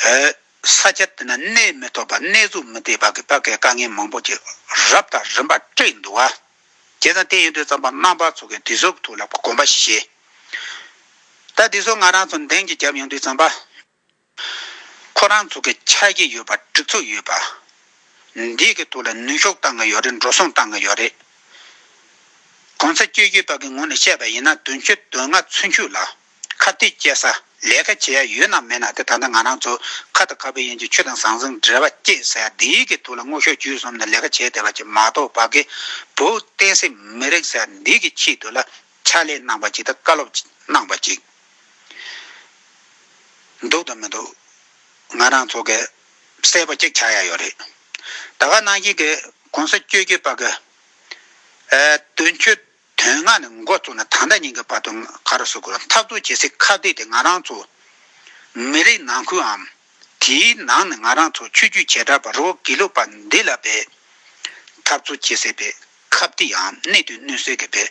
[SPEAKER 1] ཨོའི་ས་ཆ་དེ་ན་གནས་མི་ཐོབ་པ་གནས་བཟོ་མི་བདེ་བ་གི་བར་གྱི་དཀའ་ངལ་མང་པོ་གཅིག་རབས་དང་རིམ་པར་སྤྲད་འདུག་བ། རྒྱལ་དང་བསྟན་ཡོད་དུས་བརྩམས་པ་རྣམ་པར་ཚོགས་ཀྱི་དུས་སོགས་ཐུགས་ལ་བསྒོམ་པ་བཞི། ལྟ་དུས་སོགས་ང་རང་ཚོ་འདེང་གི་རྒྱབ་ཡོང་དུས་བརྩམས་པ། ཁོ་རང་ཚོ་གི་ཆ་རྐྱེན་ཡོད་པ་སྒྲིག་འཛུགས་ཡོད་པ། འདིའི་གི་ཐུགས་ལ་ནུས་ཤོག་བཏང་གི་ཡོད་རེད་འགྲོ་སོང་བཏང་གི་ཡོད་རེད། གོང་ས་སྤྱོད་རྒྱུད་དཔག་གི་ངོ་ནས་བཤད་པ་ཡིན་ན་དོན་བཅུ་དོན་ལྔ་ཚུན་ཆུད་ལ། ཁ་བཏད་སྐྱེལ་ས་ལས་ཀ་བྱེད་ཡ་ཡོད་ན་མེད་ན་དེ་ད་ལྟ་ང་རང་ཚོ་ཁ་དང་ཁ་བའི་ཡན་གྱི་ཆུ་དང་ཟང་ཟིང་འདྲེས་པ་སྐྱེད་ས་འདི་གི་ཐུགས་ལ་སྔོ་ཤོག་བྱུས་གསུམ་ནས་ལས་ཀ་བྱས་བསྡད་པ་ཅིག་མ་གཏོགས་བ་གི་བུ་བསྟན་སྲིད་མི་རིགས་ས་འདི་གི་ཆེད་དུ་ལ་ཕྱག་ལས་གནང་པ་ཅིག་དང་བཀའ་སློབ་གནང་པ་ཅིག་འདུག་དང་མི་འདུག་ང་རང་ཚོ་གི་གསལ་པོ་གཅིག་ཆགས་ཡ་ཡོད་རེད་ད་ག་ནང་བཞིན་གི་གོང་ས་བཅོས་བསྒྱུར་བ་གི་དོན་འཁྱོལ། དོན་ལྔ་ནི་མགོ་བཙུགས་ནས་ད་ལྟ་ཉིན་གྱི་བར་དུ་ག་རུ་སུ་གུ་ལ་འཐབ་རྩོད་བྱེད་སའི་ཁ་བརྡའི་དེ་ང་རང་ཚོ། མི་རིགས་ནང་ཁུལའམ། དེའི་ནང་ནས་ང་རང་ཚོ་ཆོས་བརྒྱུད་བྱེ་བྲག་པ་རོ་གེ་ལུག་པ་འདི་ལ་བས། འཐབ་རྩོད་བྱེད་སའི་བས་ཁ་བརྡའམ་གནད་དུ་བསྣུན་སའི་གི་བས།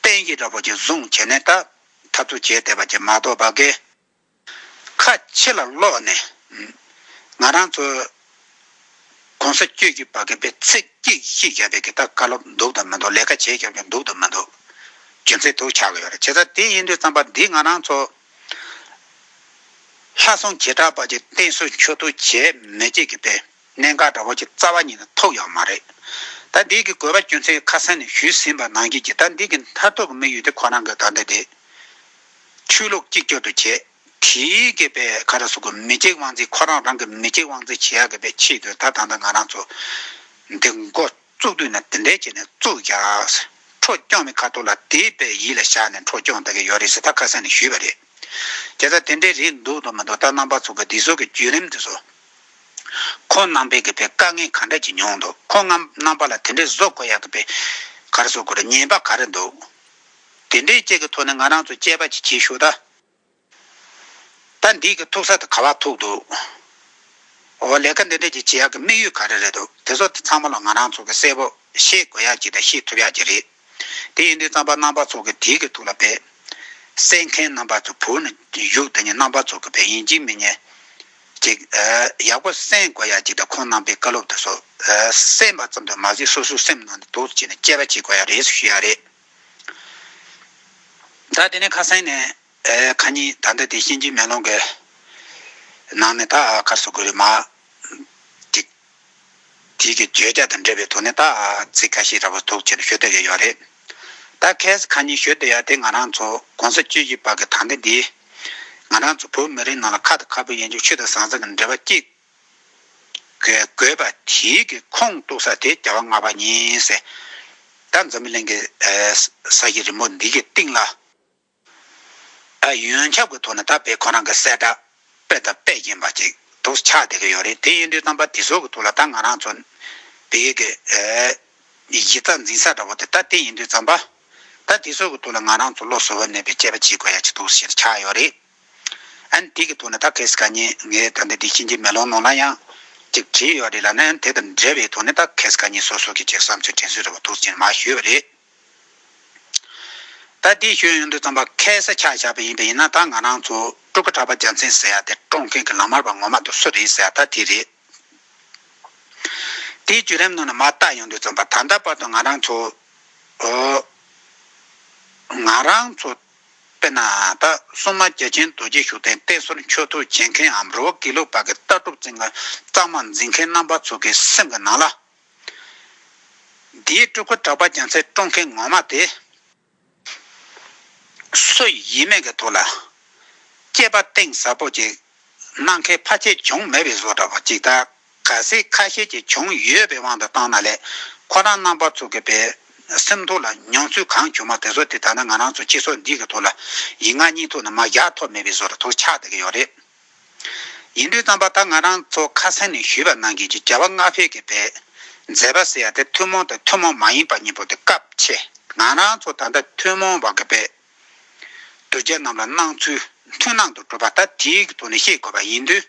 [SPEAKER 1] བན་གྱི་ར་བོ་ཆེ་བཟུང་བྱས་ནས་ད་འཐབ་རྩོད་བྱས་བསྡད་པ་ཅིག་མ་གཏོགས་བ་གས། ཁ་ཕྱི་ལ་སློག་ནས། ང་རང་ཚོ ྋགོང་ས ྋསྐྱོད་ཀྱི་བ་ག་པའི་ཚེ་སྐྱིད་ཤིག་བཞག་པའི་གི་ད་བཀའ་སློབ་འདུག་དང་མི་འདུག་ལས་ཀ་བྱེད་ཀྱང་འདུག་དང་མི་འདུག་རྒྱུ་མཚན་དུ་ཆགས་ཡོད་རེད་བྱས་ཙང་དེ་ཡིན་དུས་རྩམ་པ་འདི་ང་རང་ཚོ་ལྷ་སྲུང་བྱེ་བྲག་པ་ཀྱི་བསྟེན་གསོལ་མཆོད་བསྟོད་བྱས་མི་བྱེད་ཀྱི་དཔེ། གནད་འགག་འདྲ་བོ་ཅིག་རྩ་བ་ཉིད་ནས་ཐོབ་ཡོད་མ་རེད། ད་འདི་གི་དགོས་པ་རྒྱུ་མཚན་ཁ་སང་ནས་ཞུས་ཟིན་པ་ནང་བཞིན་གྱི་ད་འདི་གི་མཐར་ཐུག་གི་དམིགས་ཡུལ་དེ་ཁོ་རང་གི་ག་འདི་དེ། ཆོས་ལུགས་གཅིག་གྱུར་དུ་བྱེད་དེའི་གི་པའི་ག་རེ་སོགས་ཀྱི་མི་གཅིག་དབང་འཛིན་ཁོ་རང་རང་གི་མི་གཅིག་དབང་འཛིན་བྱེད་ཡག་གི་པའི་ཆེད་དུ་ད་ད་ལྟ་ང་རང་ཚོ་འདི་འགོ་བཙུགས་དུས་ནས་འདི་འདྲའི་ཆེད་ནས་བཙུགས་ཡག་འཕྲོ་སྐྱོང་མི་ཁ་ཐུག་ལ་དེ་པའི་ཡིད་ལ་བཞག་ནས་འཕྲོ་སྐྱོང་ད་གི་ཡོད་རེད་ཟེར་ད་ཁ་སང་ནས་ཞུས་པ་རེད། རྒྱལ་ས་དེ་འདྲའི་རེད་འདུག་འདུག་མི་འདུག་ད་རྣམ་པ་ཚོ་གི་འདི་ཚོ་གི་བརྒྱུད་རིམ་འདི་ཚོ་ཁོང་རྣམ་པས་གི་པའི་དཀའ་ངལ་གང་འདྲ་གྱི་མྱོང་འདུག་ཁོང་ངམ་རྣམ་པ་ལ་དེ་འདྲའི་བཟོ་དགོས་ཡག་གི་པའི་གར་བཟོ་དགོས་ར་ཉན་པ་ག་རེ་འདུག་དེ་འདྲའི་བཅས་གི་ཐོག་ནས་ང་རང་ཚོ་དཔྱད་པ་གྱི་གྱིས་ཤོག་ད། ད་འདིས་གི་ཐུག་ས་དེ་ག་བ་ཐུག་འདུག་འོ་ལས་ཀ་འདི་འདྲ་གྱི་བྱེད་ཡག་གི་དམིགས་ཡུལ་ག་རེ་རེད་འདུག་དེ་ཚོ་དེ་ཚང་མ་ལ་ང་རང་ཚོ་གི་གསལ་པོ་ཤེས་དགོས་ཡག་གྱི་དང་ཤེས་ཐུབ་ཡག་གྱི་རེད། དེ་ཡིན་དུས་རྩམ་པ་རྣམ་པ་ཚོགས་ཀྱི་དུས་ཀྱི་ཐུགས་ལ་འབད། བསད་མཁན་རྣམ་པ་ཚོ་བུ་ནི་གཞུག་དེ་ཉིད་རྣམ་པ་ཚོགས་ཀྱི་བས་ཡིན་གཅིག་མི་རྙེད། ཅིག། ཡག་པོ་གསན་དགོས་ཡ་ཅིག་དང་ཁོང་རྣམ་པའི་བཀའ་སློབ་དུ་སོ། གསན་པ་ཙམ་དུ་མ་ཟིག་སོ་སོའི་སེམས་ནང་དུ་དུག་བྱས་ནས་དཔྱད་པ་བྱེད་དགོས་ཡ་རེད་ཞུ་ཡ་རེད། ད་དེ་ནས་ཁ་སང་ནས་ཁ་ཉིན་ད་ལྟ་དེ་གཤིན་རྗེའི་མེ་ལོང་གི་ནང་ནས་ད་ཁ་གསོ་དགོས་རེད་མ། ཅིག། བྲིས་ཀྱི་བརྗོད་བྱ་དང་འབྲེལ་བའི་དོགས་གནས་དག་ཚིག་ཁ་ཤས་ར་བ་ཐུག་ཆེར་ཤོད་འདོད་ཡོད་ཡོད་རེད། ད་གལ་ཁ་ཉིན་ཤོད་འདོད་ཡ་དེ་ང་རང་ཚོ་གོང་ས་བཅུ་བཞི་པ་གི་དང་དེ་འདི། ང་རང་ཚོ་བོད་མི་རིགས་ནང་ལ་ཁ་དང་ཁ་བུ་ཡན་ཆུ་ཆུ་དང་ཟང་ཟིང་གི་འབྲེལ་བ་གཅིག་གི་དགོས་པ་དེའི་གི་ཁུངས་གཏུག་ས་དེ་རྒྱ་བ་ལྔ་པ་ཉིན་སྲས་ད་འཛམ་གླིང་གི་ས་གཞི་རིན་པོ་འདི་གི་སྟེང་ལ། ད་ཡོན་ཁྱབ་ཀྱི་ཐོག་ནས་ད་པེ་ཁོ་རང་གི་གསལ་བསྒྲགས་དཔེ་དང་དཔེ་རྒྱན་པ་ཅིག་འདུག་ཆགས་བསྡད་ཀྱི་ཡོད་རེད་དེ་ཡིན་དུས་རྩམ་པ་དེ་ཚོ་གི་ཐོག་ལ་ད་ང་རང་ཚོ་བོད་ཡིག་གི་ཡིག་རྩ་འཛིན་ས་འདྲ་བོ་དེ་ད་དེ་ཡིན་དུས་རྩམ་པ་ད་དེ་ཚོ་གི་ཐོག་ལ་ང་རང་ཚོ་བློ་གཟུ་བོར་གནས་པའི་དཔྱད་པ་བྱེད་དགོས་ཡ་ཅིག་འདུག་ཞེས་ཆགས་ཡོད་རེད། ཨན་དེ་གི་ཐོག་ནས་ད་གལ་སྲིད་ཁ་ཉིན་ངས་ད་འདི་འདི་ཕྱིན་ཆད་མེ་ལོང་ནང་ལ་ཡང་ཅིག་བྲིས་ཡོད་རེད་ལ་ན་ཨན་དེ་དང་འབྲེལ་བའི་ཐོག་ནས་ད་གལ་སྲིད་ཁ་ཉིན་སོ་སོ་གི་ཅིག་བསམ་ཚུལ་དྲན་གསོས་འདྲ་བོ་འདུག་ཅེས་མ་ཞུས་པ་རེད། ད་ལྟའི་ཤོད་ཡོན་དུ་བརྩམས་པ་ཁལ་ས་ཆགས་བཞག་པ་ཡིན་པས་ཡིན་ན་ད་ང་རང་ཚོ་སྤྲུལ་སྐུ་གྲགས་པ་རྒྱལ་མཚན་ཟེར་ཡ་དེ་བཀྲོངས་མཁན་གྱི་ལག་དམར་བ་ངོ་མ་དུ་སུ་རེད་ཟེར་ཡ་ད་དེ་རེད། དེའི་བརྒྱུད་རིམ་ནང་ན་མ་བརྟགས་ཡོན་དུ་བརྩམས་པ་ད་ལྟ་བར་དུ་ང་རང་ཚོ། ང་རང་ཚོ། དཔེར་ན་ད་སོ་མ་རྒྱལ་ཆེན་རྡོ་རྗེ་ཤུགས་ལྡན་བསྟེན་གསོལ་མཆོད་འཐུ་བྱེད་མཁན་འམ་རི་བོ་དགེ་ལུགས་པ་གི་ལྟ་གྲུབ་རྩིག་ངར་གཙང་མ་འཛིན་མཁན་རྣམ་པ་ཚོ་གི་སེམས་ཀྱི་ནང་ལ། འདིའི་སྤྲུལ་སྐུ་གྲགས་པ་རྒྱ་མཚོའི་སྤྲོ་མཁན་ངོ་མ་དེ། སུ་ཡིན་མེད་ཀྱི་ཐོག་ལ། སྐྱེས་པ་གཏིང་ཟབ་པོ་ཅིག་གནང་མཁན་ཕ་ཆེ་བྱུང་མེད་པའི་བཟོ་འདྲ་བ་ཅིག་ད་ག་ཟེ་ཁ་ཤས་ཀྱིས་བྱུང་ཡོད་པའི་དབང་དུ་བཏང་ན་ལས་ཁོ་རང་རྣམ་པ་ཚོ་གི་པའི་སེམས་ཐོག་ལ་མྱོང་ཚུལ་གང་བྱུང་མ་དེ་ཚོ་དེ་ད་ནི་ང་རང་ཚོ་སྤྱི་ཚོགས་འདི་གི་ཐོག་ལ་ཡིག་ངག་གཉིས་ཐོག་ནས་མ་བཞག་ཐོག་མེད་པའི་བཟོ་འདྲ་ཐོག་ཆགས་བསྡད་ཀྱི་ཡོད་རེད། ཡིན་དུས་བརྩམས་པ་ད་ང་རང་ཚོ་ཁ་སེང་ནས་ཞུས་པ་གནང་གིས་ཀྱི་བྱ་བ་སྔ་ཕེབས་ཀྱི་བས། མཛད་པ་ཟེར་ཡ་དེ་ཐུན་མོང་དང་ཐུན་མོང་མ་ཡིན་པ་གཉིས་པོ་དེ་སྐབས་ཆེ་ང་རང་ཚོ་ད་ལྟ་ཐུན་མོང་བ་གི་བས། གདུལ་བྱ་རྣམས་ལ་སྣང་ཚུལ་མཐུན་སྣང་དུ་གྲུབ་པ་ད་དེའི་ཐོག་ནས་ཤེས་དགོས་པ་ཡིན་དུས།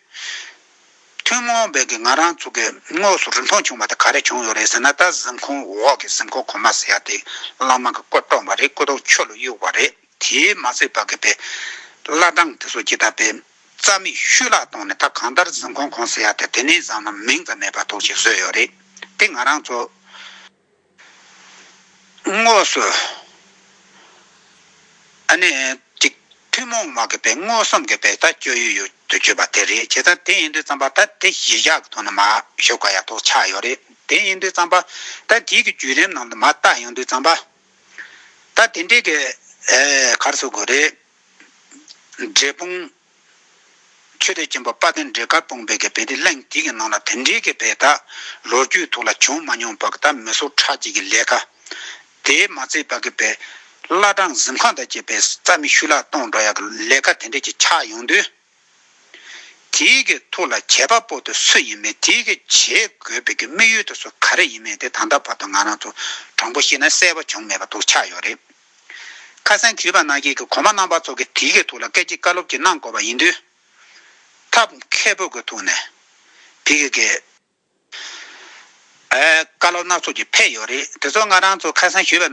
[SPEAKER 1] ཐུན་མོང་བས་ཀྱི་ང་རང་ཚོ་གི་དངོས་སུ་རིན་ཐང་བྱུང་བ་དེ་ག་རེ་བྱུང་ཡོད་རེད་ཟེར་ན་ད་གཟིམ་ཁང་འོག་གི་གཟིམ་ཁང་གོང་མ་ཟེར་ཡ་དེ་བླ་མ་གི་སྐུ་བཀྲོངས་པ་རེད་སྐུ་གདུང་ཆུ་ལ་གཡུགས་པ་རེད། དེས་མ་ཚད་པ་གུས་པས་བླ་བྲང་དུ་སོ་སྐྱེས་བཏབ་པས། རྩ་མིག་ཤུ་ལྷག་བཏང་ནས་ད་གང་ལྟར་གཟིམ་ཁང་གང་ཟེར་ཡ་དེ་དེ་ནས་བཟང་ན་མིང་ཙམ་མེད་པར་ཐོགས་ཤིག་བཟོས་ཡོད་རེད་དེ་ང་རང་ཚོ། དངོས་སུ། ཨ་ནེ། ཅིག་ཐུན་མོང་མ་གུས་པས་དངོས་སམ་གུས་པས་ད་བསྐྱོད་ཡུལ་ཡོད་དུ་བསྐྱོད་པ་དེ་རེད་བྱས་ཙང་དེ་ཡིན་དུས་བརྩམས་པ་ད་དེ་གཞི་བཞག་གི་ཐོག་ནས་མ་ཞུ་ག་ཡ་ཐོག་ཆགས་ཡོད་རེད་དེ་ཡིན་དུས་བརྩམས་པ་ད་དེའི་གི་བརྒྱུད་རིམ་ནང་དུ་མ་བརྟགས་ཡོང་དུས་བརྩམས་པ། ད་དེ་འདྲའི་གེ། གར་སོགས་དགོས་རེད། འབྲས་སྤུངས། ཆོས་སྡེ་ཆེན་པོ་དཔའ་བརྟན་འབྲས་དཀར་སྤུངས་པའི་གེ་བེད་དེ་གླེང་དེ་གི་ནང་ལ་དེ་འདྲའི་གེ་བེད་ད་ལོ་རྒྱུས་ཐོག་ལ་བྱུང་མ་མྱོང་པ་གི་ད་མི་སོ་ཁྲག་གཅིག་གི་ལས་ཀ། དེ་མ་ཚད་པ་གི་བེད། བླ་བྲང་གཟིམ་ཁང་དང་བཅས་པའི་རྩ་མི་ཤུ་ལག་སྟོང་འགྲོ་ཡ་གི་ལས་ཀ་དེ་འདྲའི་གི་ཆགས་ཡོང་དུས། དེའི་གི་ཐུགས་ལ་བྱས་པ་པོ་དེ་སུ་ཡིན་མིན་དེའི་གི་བྱེད་དགོས་པའི་གི་དམིགས་ཡུལ་དེ་སུ་ག་རེ་ཡིན་མིན་དེ་ད་ལྟ་བར་དུ་ང་རང་ཚོ་དྲང་པོ་ཤེས་ན་གསལ་པོ་བྱུང་མེད་པ་འདུག་ཆགས་ཡོད་རེད། ཁ་སང་གུས་པ་ནག་སྐྱེས་གི་གོང་མ་རྣམ་པ་ཚོ་གི་དེའི་གི་ཐུགས་ལ་སྐད་ཅིག་བཀའ་སློབ་ཅིག་གནང་དགོས་པ་ཡིན་དུས། ཐབས་མཁས་པོ་གི་ཐུགས་ནས་དེའི་གི་གི། བཀའ་སློབ་སྣ་ཚོགས་ཀྱི་ཕེབས་ཡོད་རེད་དེ་ཚོ་ང་རང་ཚོ་ཁ་སང་གུས་པ་ནག།